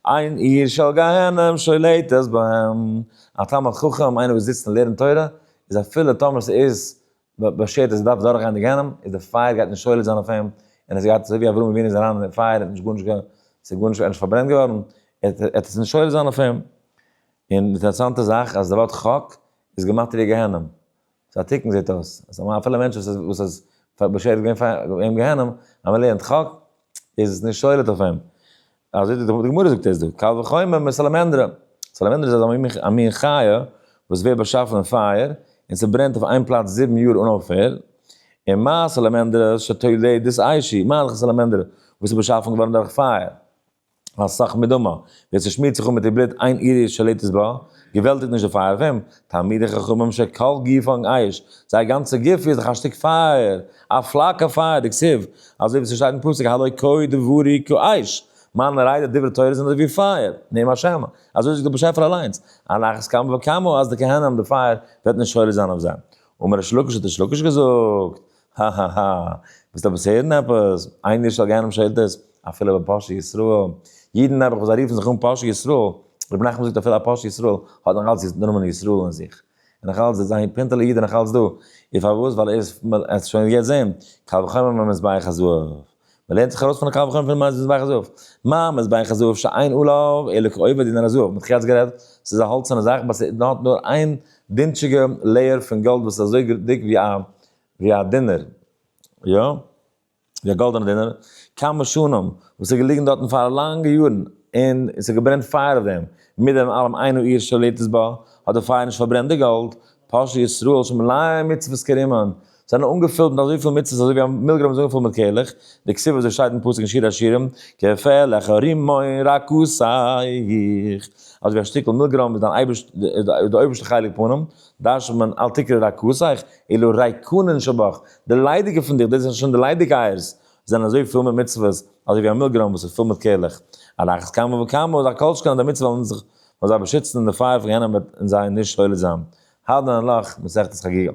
S1: אין עיר של גיהנום שולטת בהם, א תלמיד חכם, איינער וואס זיצט און לערנט תורה, איז אפילו טאמער ס'איז באשערט אז ער דארף דורכגיין די גיהנום, איז די פייער גייט נישט שולט זיין אויף אים, און עס גייט, אזוי ווי אברהם אבינו איז אריין אין די פייער, ער האט נישט גארנישט געהאט, ס'איז גארנישט, ער איז נישט פארברענט געווארן, עטס נישט שולט זיין אויף אים. און אינטערעסאנטע זאך, אז די ווארט חק, איז געמאטעריע גיהנום. ס'איז א תיקון זעהט אויס, אז אפילו א מענטש וואס איז וואס איז בשעת'ן געווען אין גיהנום, אז מען לערנט חק, איז עס נישט שולט אויף אים. אזוי די גמרא זאגט עס דא, קל וחומר מיט סאלאמענדרע, סאלאמענדרע איז אזא מין א מין חיה וואס ווערט באשאפן אין פייער, און ס'ברענט אויף איין פלאץ זיבן יאר אן אויפהער, און מה סאלאמענדרע שתולי דאיסאישי, מה לך סאלאמענדרע וואס איז באשאפן געווארן דורך פייער. א סאך מדומה, ווער ס'שמירט זיך אן מיט איר בלוט איין אירית שולטת בה, געוועלטיגט נישט די פייער אויף אים, תלמידי חכמים שכל גופם אש, זייער גאנצע גוף איז דאך א שטיק פייער, א פלאקע פייער, דכסיב, אזוי ווי ס'שטייט אין פסוק הלא כוי דברי כאש, מיינע ריידער דברי תורה זענען אזויווי פייער, נעם השם, אזוי זאגט דער באשעפער אליינס, על אחת כמה וכמה אז די כהנם די פייער וועט נישט שולט זיין אויף זיי, אמר ריש לקיש האט ריש לקיש געזאגט, האהאהא, ווילסט עפעס הערן עפעס? איינער איז שוין געהערט דעם שאילתות? אפילו ביי פרשת ישראל, אידן נעבעך וואס זיי רופן זיך אן פרשת ישראל, רבי נחמן זאגט אפילו א פרשת ישראל האט נאך אלץ דער נאמען ישראל אין זיך, און נאך אלץ איז זיין פינטעלע איד נאך אלץ דא, און פארוואס? ווייל ער איז, מ'עט עס שוין יעצט זעהן, קל וחומר מיט מזבח הזהב. מען לערנט זיך ארויס פון הקל וחומר פון מזוז ביי חזוף, מה מזוז ביי חזוף שאין עליו אלא כעובד דינר הזהב, מען האט יעצט גערעדט, ס'איז א האלצערנע זאך באט ס'האט נאר איין דינטשיגע לעיער פון גאלד וואס איז אזוי דיק ווי א ווי א דינער, יא, ווי א גאלדענע דינער, כמה שנים, וואס איז געליגן דארטן פאר לאנגע יארן, און ס'האט געברענט פייער אויף דעם, מיט דעם אלעם אינו עיר שליט איז בה, האט די פייער נישט פארברענט די גאלד, פושעי ישראל שמלאי מצוות כרימון, זענען אנגעפילט מיט אזויפיל מצות אזוי ווי א מילגרוים איז אנגעפולט מיט קעלעך, די כסוף וואס דא שטייט אין פסוק אין שיר השירים, כפלך הרימון רכסייך, אזוי ווי א שטיקל מילגרוים איז דיין אייבערשט איז די אויבערשטע חלק פונעם, דרש'נט מען אל תקרא רכסייך, אלא ריקונין שבך, די ליידיגע פון דיך, דאס זענען שוין די ליידיגע אייערס, זענען אזוי פיל מיט מצוות, אזוי ווי א מילגרוים וואס איז פיל מיט קעלעך, על אחת כמה וכמה, אזא כל שכן אז די מצות וועלן זיך וועלן זיי באשיצן און די פייער פון גיהנום וועט אין זיי נישט שולט זיין, האד' הנ ל, מסכת חגיגה,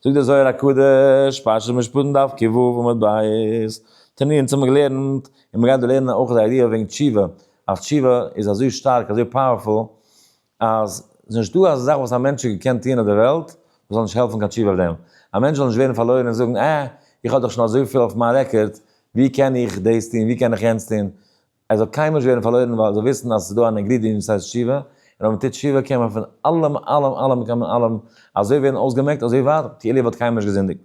S1: זאגט דער זוהר הקדוש, פרשת משפטים דף קי ו עמוד ב', תני אונז האבן געלערנט, און מ'גייט דא לערנען אויך די איידיע וועגן תשובה, אז תשובה איז אזוי שטארק, אזוי פאוערפול, אז ס'איז נישטא א זאך וואס א מענטש האט געקענט טוען אויף דער וועלט, וואס זאל נישט העלפן קיין תשובה אויף דעם. א מענטש זאל נישט ווערן פארלוירן און זאגן, אה, איך האב דאך שוין אזויפיל אויף מיין רעקארד, ווי קען איך דאס טון, ווי קען איך יענץ טון, עס זאל קיינמאל נישט ווערן פארלוירן ווייל זיי וויסן אז עס איז דא אן אינגרידיענט וואס הייסט תשובה, און אויב מען טוט תשובה קען מען פון אלעם אלעם אלעם קען מען אלעם אזוי ווערן אויסגעמעקט אזוי ווייט כאילו ער וואלט קיינמאל נישט געזינדיגט.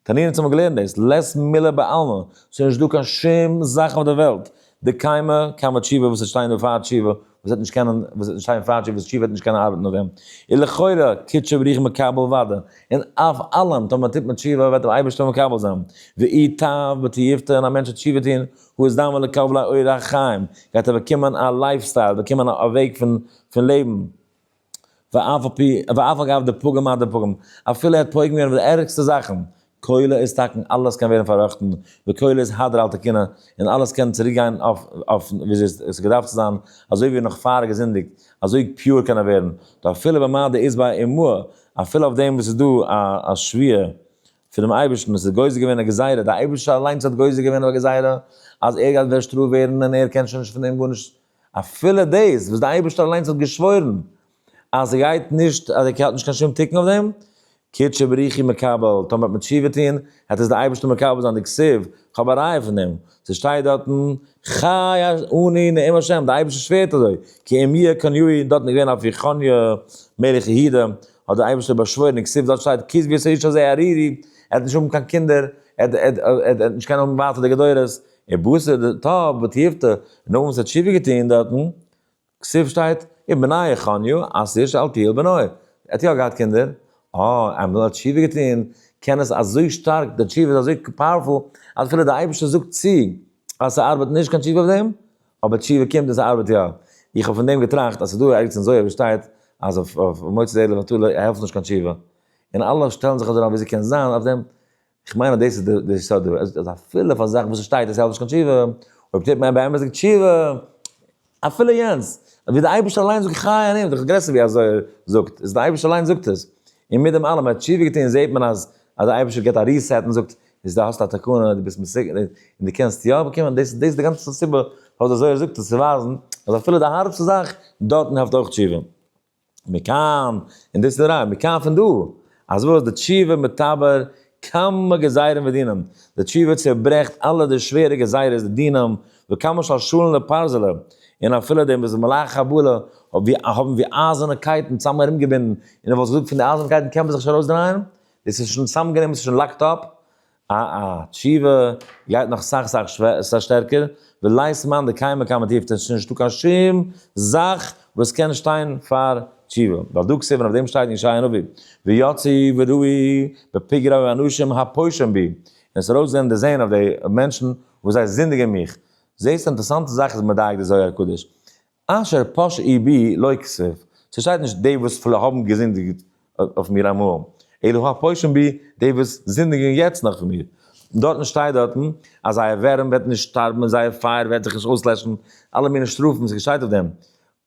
S1: תנינים צו האבן געלערנט דאס לעס מילא בעלמא, ס'איז נישט דא קיין שום זאך אויף דער וועלט, די קיימא קיימא תשובה וואס עס שטייען דא פאר תשובה, וואס וועט נישט קענען וואס וועט נישט שטיין פארטש וואס שי וועט נישט קענען ארבעטן אויף אים און לכאורה קוט שב ריח מקבל וואדע און אויף אלעם טאמער טוט מען תשובה וועט אים אייבערשטער מקבל זיין ואי טב בתיובתא און א מענטש וועט תשובה טון הוא אזדמ א לקבל א אורח חיים גייט ער באקומען א לייף סטייל באקומען א וועג פון פון לעבן. ואף על פי, ואף על גב די פגם אט די פגם, אפילו ער האט פוגם געווען מיט די ערגסטע זאכן, כולו איז תקין אלעס קען ווערן פארראכטן, וכולו איז הדר על תקינא, און אלעס קען צוריק גיין אויף וויאזוי עס האט געדארפט צו זיין, אזוי ווי נאך פאר געזינדיגט, אזוי פיור קען ער ווערן, ואפילו במה דאיז בה אימהא, אפילו אויף דעם וואס איז דא א שוויה פונעם אייבערשטן, עס איז גוזר געווען א גזירה, דער אייבערשטער אליינס האט גוזר געווען אויף א גזירה אז ער גייט ווערט שטראף ווערן און ער קען שוין נישט פון דעם גארנישט אפילו דאס וואס דער אייבערשטער אליינס האט געשוואוירן אז ער גייט נישט, אז ער האט נישט קיין שום תיקון אויף דעם, כד שבריחי מקבל, טאמער האט מען תשובה טון, העט עס דער אייבערשטער מקבל זיין די כסוף, כ'האב א ראיה פון דעם, ס'שטייט דארטן, חי אני נעים השם, דער אייבערשטער שווערט אזוי, כי אם יהיה כן יהיה, דארטן איז געווען אויף יחניה מלך יהודה, האט דער אייבערשטער באשוואוירן אין כסוף, דארט שטייט כזבי את האיש הזה ארירי, ער העט נישט האבן קיין קינדער, ער העט נישט קענען האבן ווייטער די גדורות, און בשר די טוב בתיעבתא, און נאכדעם וואס ער האט תשובה געטון דארטן, כסוף שטייט, און בניו חניו, אסיר שאלתיאל בנו, ער האט יא געהאט קינדער, אה, איינמאל ער האט תשובה געטון, קען עס אזוי שטארק, די תשובה איז אזוי פאוערפול, אז אפילו די אייבערשטער זאגט צו, אז ס'ארבעט נישט קיין תשובה אויף דעם, אבער תשובה קומט און ס'ארבעט יא. איך האב פון דעם געטראכט אז ס'איז דא ערגעץ אין זוהר ווי שטייט אז אויף מוצאי ערלה ואתרלה העלפט נישט קיין תשובה, און אלע שטעלן זיך אזוי אריין ווי ס'קען זיין אויף דעם, איך מיין אז דאס איז די יסוד, אז אפילו פאר זאכן וואס עס שטייט עס העלפט נישט קיין תשובה, אויב טוט מען באמת תשובה, אפילו יענץ, ווי די אייבערשטער אליין זאגט חי אני, דאך גרעסער ווי אזוי ער זאגט, איז די אייבערשטער אליין זאגט עס, און מיט דעם אלעם ער האט תשובה געטון זעט מען אז אז די אייבערשטער גיבט א ריסעט און זאגט, איז די האסט א תקנה די ביסט מסוגל און די קענסט יא באקומען, דאס דאס איז די גאנצע סיבה פארוואס אזוי ער זאגט עס צו ווייזן אז אפילו די הארבסטע זאך דארטן העלפט אויך תשובה. מכאן, און דאס איז די ראיה, מכאן פון דא, אז וואס די תשובה מתבר כמה גזירים ודינים, די תשובה צעברעכט אלע די שווערע גזירות די דינים, וכמה של שלן לפרזלה, און אפילו דעם וואס די מלאך הבעלה האבן ווי אייזערנע קייטן צאם ארום געבינדן, און איך וואלט געזאגט פון די אייזערנע קייטן קען מען זיך נישט ארויס דרייען, דאס איז שוין צאמגענומען, ס'איז שוין לאקד אפ, אה אה, תשובה גייט נאך סאך סאך שטערקער, ולייזט מיין די קיימא קיימא טיפט עס איז נישטא קיין שום זאך וואס קען שטיין פאר תשובה, ווייל דא כסדר אויף דעם שטייט אין ישעיה הנביא, ויצא וראי בפגרי האנשים הפושעים בי, און עס איז ארויס געווען דערזען אויף די מענטשן וואס זיי זינדיגען מיך, זעסט אינטערעסאנטע זאך איז מדייק די זוהר הקדוש, אשר פש י בי לא כסוף, ס'שטייט נישט די וואס פלע האבן געזינדיגט אויף מיר אמאל, אלא ה פושעין בי די וואס זינדיגן יעצט נאך אויף מיר, און דארטן שטייט דארטן אז זייער ווערים וועט נישט שטארבן און זייער פייער וועט זיך נישט אויסלעשן, אלע מיני שטראפן איז געשיידט אויף דעם,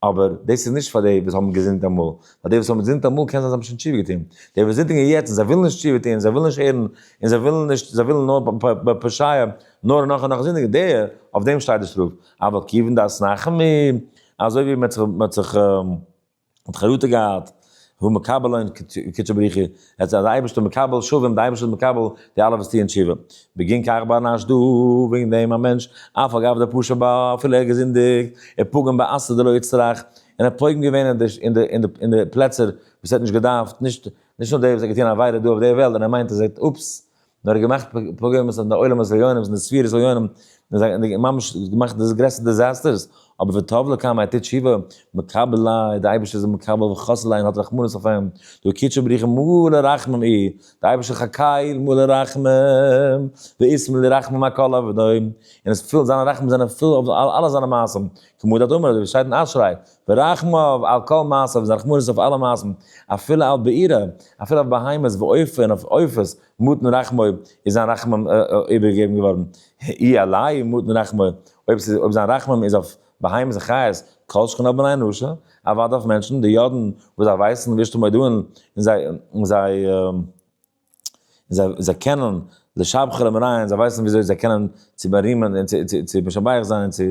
S1: אבער דאס איז נישט פאר די וואס האבן געזינדט אמאל, ווייל די וואס האבן געזינדט אמאל קען זיין זיי האבן שוין תשובה געטון, די וואס זינדיגן יעצט און זיי ווילן נישט תשובה טון, זיי ווילן נישט הערן, און זיי ווילן נישט, זיי ווילן נאר בפ ב פ ש י נאר נאך און נאך זינדיגן, די, אויף דעם שטייט די שטראף, אבל כיוון דאס נחמ י, אזוי ווי מען האט זיך מתחרטה געהאט, הוא מקבל עון קדשו בריחו, עס איז די אייבערשטער מקבל שווים, די אייבערשטער איז מקבל די אלע וואס טוען תשובה, בגין כך בא נש דא, וועגן דעם א מענטש, אף על גב די פשע בא, אפילו ער האט געזינדיגט, און פגם בעשה דלא יצטרך, און ער האט פוגם געווען אין די פלעצער וואס ער האט נישט געדארפט, נישט נאר דער וואס האט געטון א עבירה דא אויף דער וועלט, און ער מיינט אז ער האט, אופס, נאר געמאכט פוגרום'ס אין די עולם הזיונים אין די ספירת זיונים און ממש געמאכט די גרעסטע דיזעסטערס, אבער ותאב לקם ער טוט תשובה, מקבל איי, די אייבערשטער איז אים מקבל וחסד לעין האט רחמנות אויף אים, דו קדשו בריך אים מלא רחמים אי, די אייבערשטער חקייל מלא רחמים, וישמח לרחמים על כל עבדיו, און עס פילט זיינע רחמים זענען פול אויף אלע זיינע מעשים, כמעט אדמו ר ווי עס שטייט אין אשרי, ורחמיו על כל מעשיו, זיין רחמנות אויף אלע מעשים, אפילו על בעירה, אפילו אויף בהמות ועופר, אויף עופות, מותן רחמיו, איז זיין רחמים איבערגעגעבן געווארן, אי עלי' מותן רחמיו, אויב ס'איז, אויב זיין רחמים איז אויף בהמות וחיות, כל שכן על בני אנושה, אוודאי אויף מענטשן, די יודען וואס זיי ווייסן ווישט אים אודאי און זיי. און זיי זיי קענען לשבחו למראיה, זיי ווייסן וויאזוי זיי קענען צו בארימען און צו צו צו משבח זיין און צו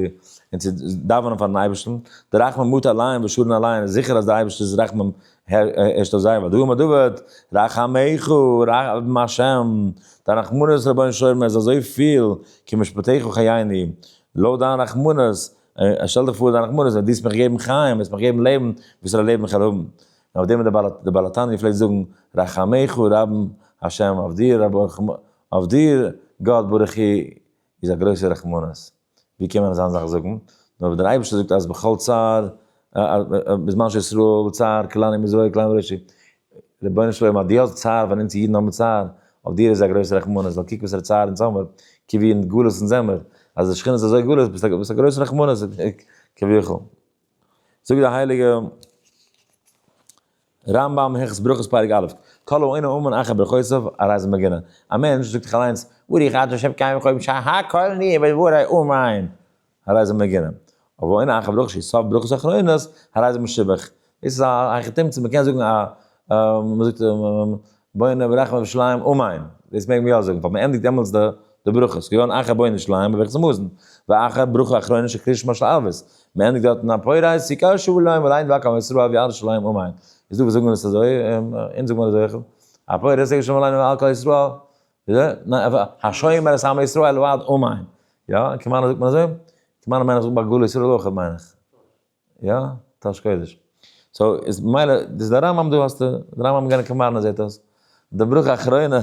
S1: און צו דאווענען פארן אייבערשטן, די רחמים מוט אליין ושרון אליין איז זיכער אז די אייבערשטער'ס רחמים הערשט אויף זיי, והדבר מדוד, רחמיך רחמים השם, דיין רחמנות רבונו של עולם איז אזוי פיל, כי משפטיך חייני, לויט דיין רחמנות, שטעל דיך פאר דיין רחמנות, ווען דו וועסט מיך געבן חיים, וועסט מיך געבן לעבן, וואסערע לעבן איך וועל האבן, און אויף דעם האט דער בעל התניא געפלעגט זאגן, רחמיך רבים ה' אויף דיר, אויף דיר גאט ברוך הוא איז א גרויסע רחמנות. ווי קען מען אזא זאך זאגן? נאר ווען דער אייבערשטער זאגט אז בכל צר בזמן שישראל צר כלני מזרעי כלני מראשי, רבונו של עולם אז דו האסט צער ווען אונז אידן האבן צער, אויף דיר איז א גרויסע רחמנות, ווייל קוק וואסערע צער אונז האמער, קוק ווי אין גלות אונז זעמער, אז די שכינה איז אזוי גלות, ביסט א גרויסע רחמנות כביכול. זאגט דער הייליגע רמב ם הלכות ברכות פרק א', כל האינו אומן אחר ברכותיו הרי זה מגונה, א מענטש זאגט זיך אליינס, ברוך אתה ה' קיים וכל יום שהיה הכל נהיה בדברי אומן, הרי זה מגונה, אבל האינו אחר ברכות שהיא סוף ברכות אחרונות, הרי זה משובח, דאס איז א היכי תמצא, מען קען זאגן א, מען זאגט בונה וברחם ובשליים אמן, דאס מעג מען יא זאגן, ווייל מען ענדיגט דעמאלטס די ברכות, כגון אחר בונה שליים בברכת המזון, ואחר ברכה אחרונה של קריאת שמע של ערבית, מען ענדיגט דארטן א פורעי סוכה שובו להם ולעין ואקא עם ישראל אוהב ירושלים אמן, איז דא וואס זאגן עס אזוי, אונז זאגט מען אזוי אויך, א פורעי סוכה שובו להם ועל כל ישראל, השומר את עם ישראל ועד אמן, יא, כמאן זאגט מען אזוי? כמאן מיין איך זאגט ביי גאולה ישראל אויך מיין איך. יא? טאהש קודש. סאו איז מילא דאס די רמב ם דא האסטו די רמב ם גענעקע מארנע זעהט אויס די ברכה אחרונה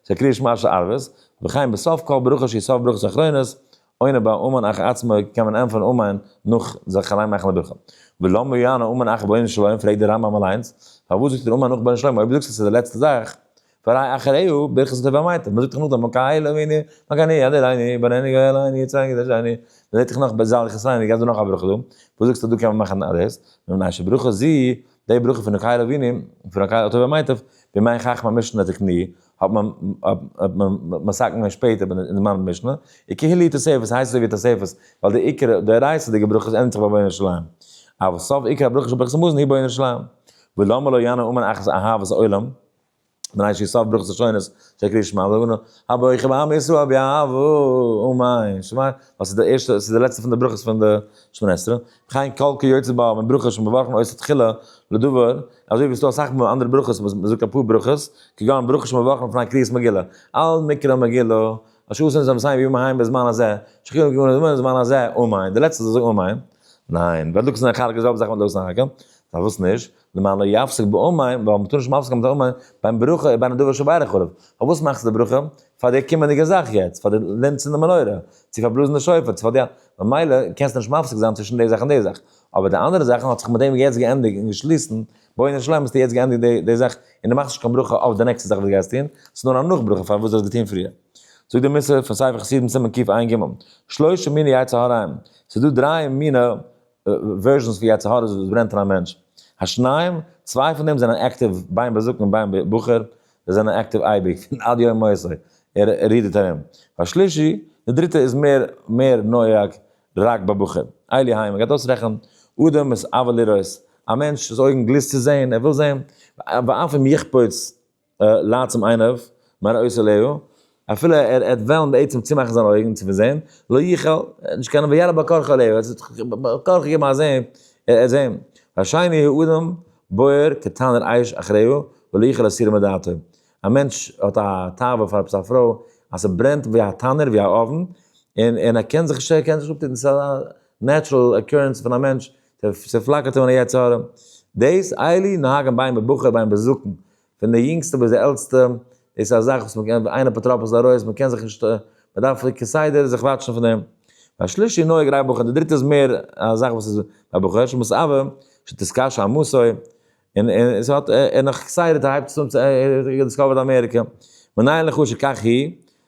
S1: של קרי שמע שערבות וכן בסוף כל ברכה שהיא סוף ברכות אחרונות עונה בה המן אח עצמו קען מען ענטפערן המן נאך זיך אליין מאכן די ברכה ולמה יענה המן אח בונו של עולם פרעגט די רמב ם אליינס פארוואס זאגט ער המן נאך בונו של עולם אויב דו זאגסט אז ס'איז די לעצטע זאך פאראי' אחריו, ברכת הטוב והמעטב, מ'זאגט דאך נאכדעם מכה אלי ואני, מכה אני, אדיר אני, בן אני, גואל אני, יצא אני, דרשי אני, מ'זעט זיך נאך בעזהאל יחסי אני, גייט דא נאך א ברכה דא, וואס זאגסטו דא קען מען מאכן אלעס, נו ניין שברכות זי, די ברכה פון מכה אלי ואני, פון מכה אלי הטוב והמעטב, בימי חכם המשנה דתקני, האט מען האט מען מסכים געווען שפעטער אין די זמן משנה, עיקר הלי' תוספות הייסט אזוי ווי תוספות, ווייל די עיקר דאורייתא'דיגע ברכות ענדיגט זיך ביי בונה ירושלים, אבער סוף עיקר הברכות של ברכת המזון היא בונה ירושלים, ולמה לא ינא אומן אחת אהבת עולם. מנין שיסוף ברוך זשונות של קרית שמע ואמונה הבויך בעם ישראל באהבה ומעין שמע וואס איז די ערשטע ס'איז די לעצטע פון די ברכות פון די שמונה עשרה חיין קל כיוצא בה אבן ברכה שוין באווארפן אויס תחילה לדבר אזוי ווי ס'דא אסאך מאל אנדערע ברכות וואס מ'זאגט אפאר ברכות כגון ברכה שוין באווארפן פון א קריאת מגילה על מקרא מגילה אשר עושים זה מסיים בימים ההם בזמן הזה שכיח גמור זמן זמן הזה ומעין די לעצטע זאגן ומעין ניין ווייל דוקא זענען חלק איז זעלבע זאך מיט לוי'ס נחכה פארוואס נישט למען לא יפסק באום מים, ווייל מ'טאר נישט מפסיק זיין מיט א אום מים ביים ברכה איבער א דבר שבא עליך עליו, פארוואס מאכסטו די ברכה? פאר די קומענדיגע זאך יעצט, פאר די לענ צינדן מנורה, צו פאר בלאזן די שופר, צו פאר די, ממילא קענסטו נישט מפסיק זיין צווישן די זאך און די זאך, אבער די אנדערע זאכן האט זיך מיט דעם יעצט געענדיגט און געשליסן, בואי נשלים האסטו יעצט געענדיגט די די זאך און די מאכסט נישט קיין ברכה אויף די נעקסטע זאך וואס די גייסט טון, ס'איז נאר א נאך ברכה פארוואס די האסט געטון פריער. זאגט די מוסר פון ספר חסידים סימן קעו עין ג, שלושה מיני יצר הרעים, ס'איז דא דריי מיני. ווערזשענס ווי יצר הרע וואס ברענט אין א מענטש. השניים, צוויי פון דעם זענען עקטיוו ביים בר זקן און ביים בחור, זיי זענען עקטיוו אייביג, פון עד יום מותו, ער רודערט ארום. והשלישי, די דריטע איז מער מער נוהג רק בבחור. אלי היימער גייט אויסרעכענען, אדם איז אוהב לראות, א מענטש איז אויגן גליסט צו זען, ער וויל זען, ואף אם יחפוץ לייט צום עיניו, מיין עושה להו, אפילו ער ער האט וועלן בעצם צומאכן זיינע אויגן צו פארזען, לא יכול, ער האט נישט קיין וירא בקרחא להו, ער האט זיך כח געגעבן א זען, ער ער זען, והשני הוא אדם בוער כתנור אש אחריו ולא יכול להסירה מדעתו, א מענטש האט א תאווה פאר עפעס א פרוי, אז ס'ברענט ווי א תנור ווי א אויוון, און און ער קען זיך נישט ער קען זיך נישט אפטוהן, ס'איז א נעטשרעל אקורענס פון א מענטש, ס'פלאקערט אים אן א יצר הרע. דאס איילי נהגים ביין בבחור ביין בזקן, פון די יונגסטע ביז די עלטסטע, דאס איז א זאך וואס מ'קען ווי איין אפוטרופוס ארויס, מ'קען זיך נישט, מ'דארף כסדר זיך וואטשן פון דעם. והשלישי נוהג רייך בחור, די דריטע איז מער א זאך וואס איז ביי בחור, שמסעוה, שתתקשה עמוסי, און ס'האט, און נאך כסדר הייבט עס אן צו, ער האט דיסקאווערד אמעריקע. מנין לך שכך היא,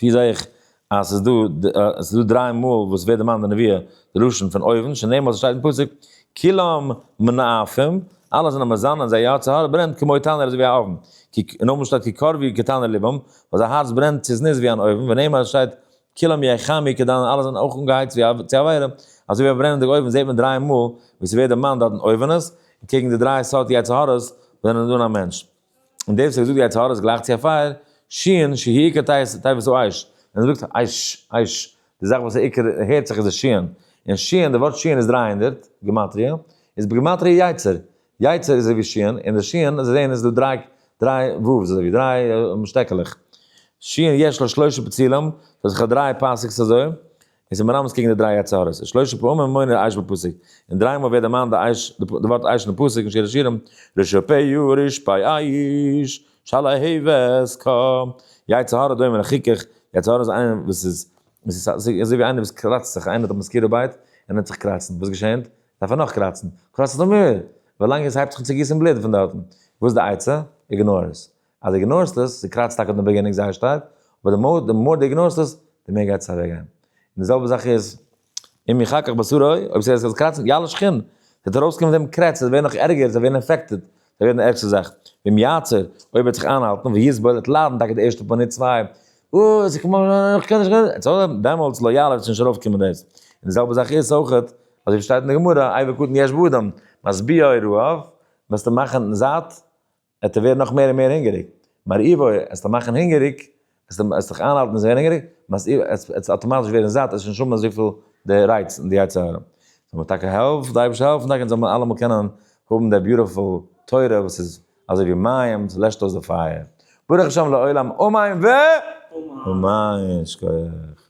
S1: ווי זעה איך אז עס איז דא עס איז דא דריי מאל וואס ווערט דערמאנט די נביאה די לשון פון אויבן שנאמר ס'שטייט אין פסוק כולם מנאפים אלע זענען מזן און זייער הארץ הארץ ברענט כמו תנור אזוי ווי א אויבן אין אויבן שטייט כקרבי כתנור לבם אז א הארץ ברענט צו זנות ווי אן אויבן ונאמר עס שטייט כולם יחמי כדנור אלע זענען אויך אנגעהייצט ווי צו א פייער אזוי ווי א ברענענדיגע אויבן זעט מען דריי מאל ווי ס'ווערט דערמאנט דארטן אויבענעס קעגן די דריי סארט יצר הרע'ס ווען איז אן א מענטש. און דער וואס האט געזאגט די יצר הרע איז גלייך צו א פייער, שיען, שיהי' עיקר תאוות תאוותו אש, ווען ער זאגט אש, אש, די זאך וואס עיקר הערט זיך איז די שיען, און שיען, די ווארט שיען איז דרײַ הונדערט, גימטריא, איז בגימטריא יצר, יצר איז אזויווי שיען, און די שיען, אזוי זעהן איז דא דרײַ, דרײַ וואווס, אזויווי דרײַ שטעקעלעך, שיען יש לו שלשה פתילים, ס'האט זיך א דרײַ פאסיקס אזוי, עס איז מרמז קעגן די דריי יצר הרע'ס, שלושה פעמים מונה דער אייש בפסוק, און דריי מאל ווערט דערמאנט די אייש, די ווארט אייש אין די פסוק אין שיר השירים, רשע פ י רש פ אייש, של ה ה' ו ס ק, יצר הרע דומה לחיכוך, יצר הרע איז איינער וואס איז, עס איז אזוי ווי איינער וואס קראצט זיך, איינער האט א מאסקיטא בייט, און העט זיך קראצן, וואס געשענט? דארף ער נאך קראצן, קראץ זיך נאך מער, ווילאנג עס הייבט זיך אן צו גיסן בלוט פון דארטן, וואס איז די עצה? איגנאר עס, אז דו איגנארסט עס, ס'קראצט טאקע דעם בעגינונג זייער שטארק, אבער די מאר די מאר דו איגנארסט עס, די מער גייט עס אוועקגיין. און די זעלבע זאך איז, אם יחכך בשרו, אויב ס'וועט זיך קראצן מיט אלע שכנים, ס'וועט ארויסקומען פון דעם קרעץ, ס'וועט ווערן נאך ערגער, ס'וועט ווערן אינפעקטעד, ס'וועט ווערן די ערגסטע זאך. ואם יעצור, אויב ער וועט זיך איינהאלטן, ויסבול, ער וועט ליידן טאקע די ערשטע פאר מינוט צוויי, אוי, ס'איז כמו, איך קען נישט, איך קען נישט, דעמאלטס, לא יעלה, וועט שוין נישט ארויפקומען דאס. און די זעלבע זאך איז אויכעט, אזוי ווי שטייט אין די גמרא, עי' בקטן יש באדם, משביעי רעב, וועסטו מאכן זאט, עט ער ווערן נאך מער און מער הונגעריג, מר איווא עסט ער מאכן הונגעריג, עסט ער זיך איינהאלטן און זיי ווערן הונגעריג, מר איווא עט ער אטאמאטיש ווערן זאט, עס איז נישט האבן אזויפיל די רייץ און די יצר הרע. זאל מיר טאקע העלפן, זאל אייבערשטער העלפן טאקע אונז זאל מען אלעמאל קענען האבן די ביוטיפול תורה וואס איז אזוי ווי מים, וואס לעשט אויס די פייער. ברוך השם לעולם אמן ו. אמן, שקויעך.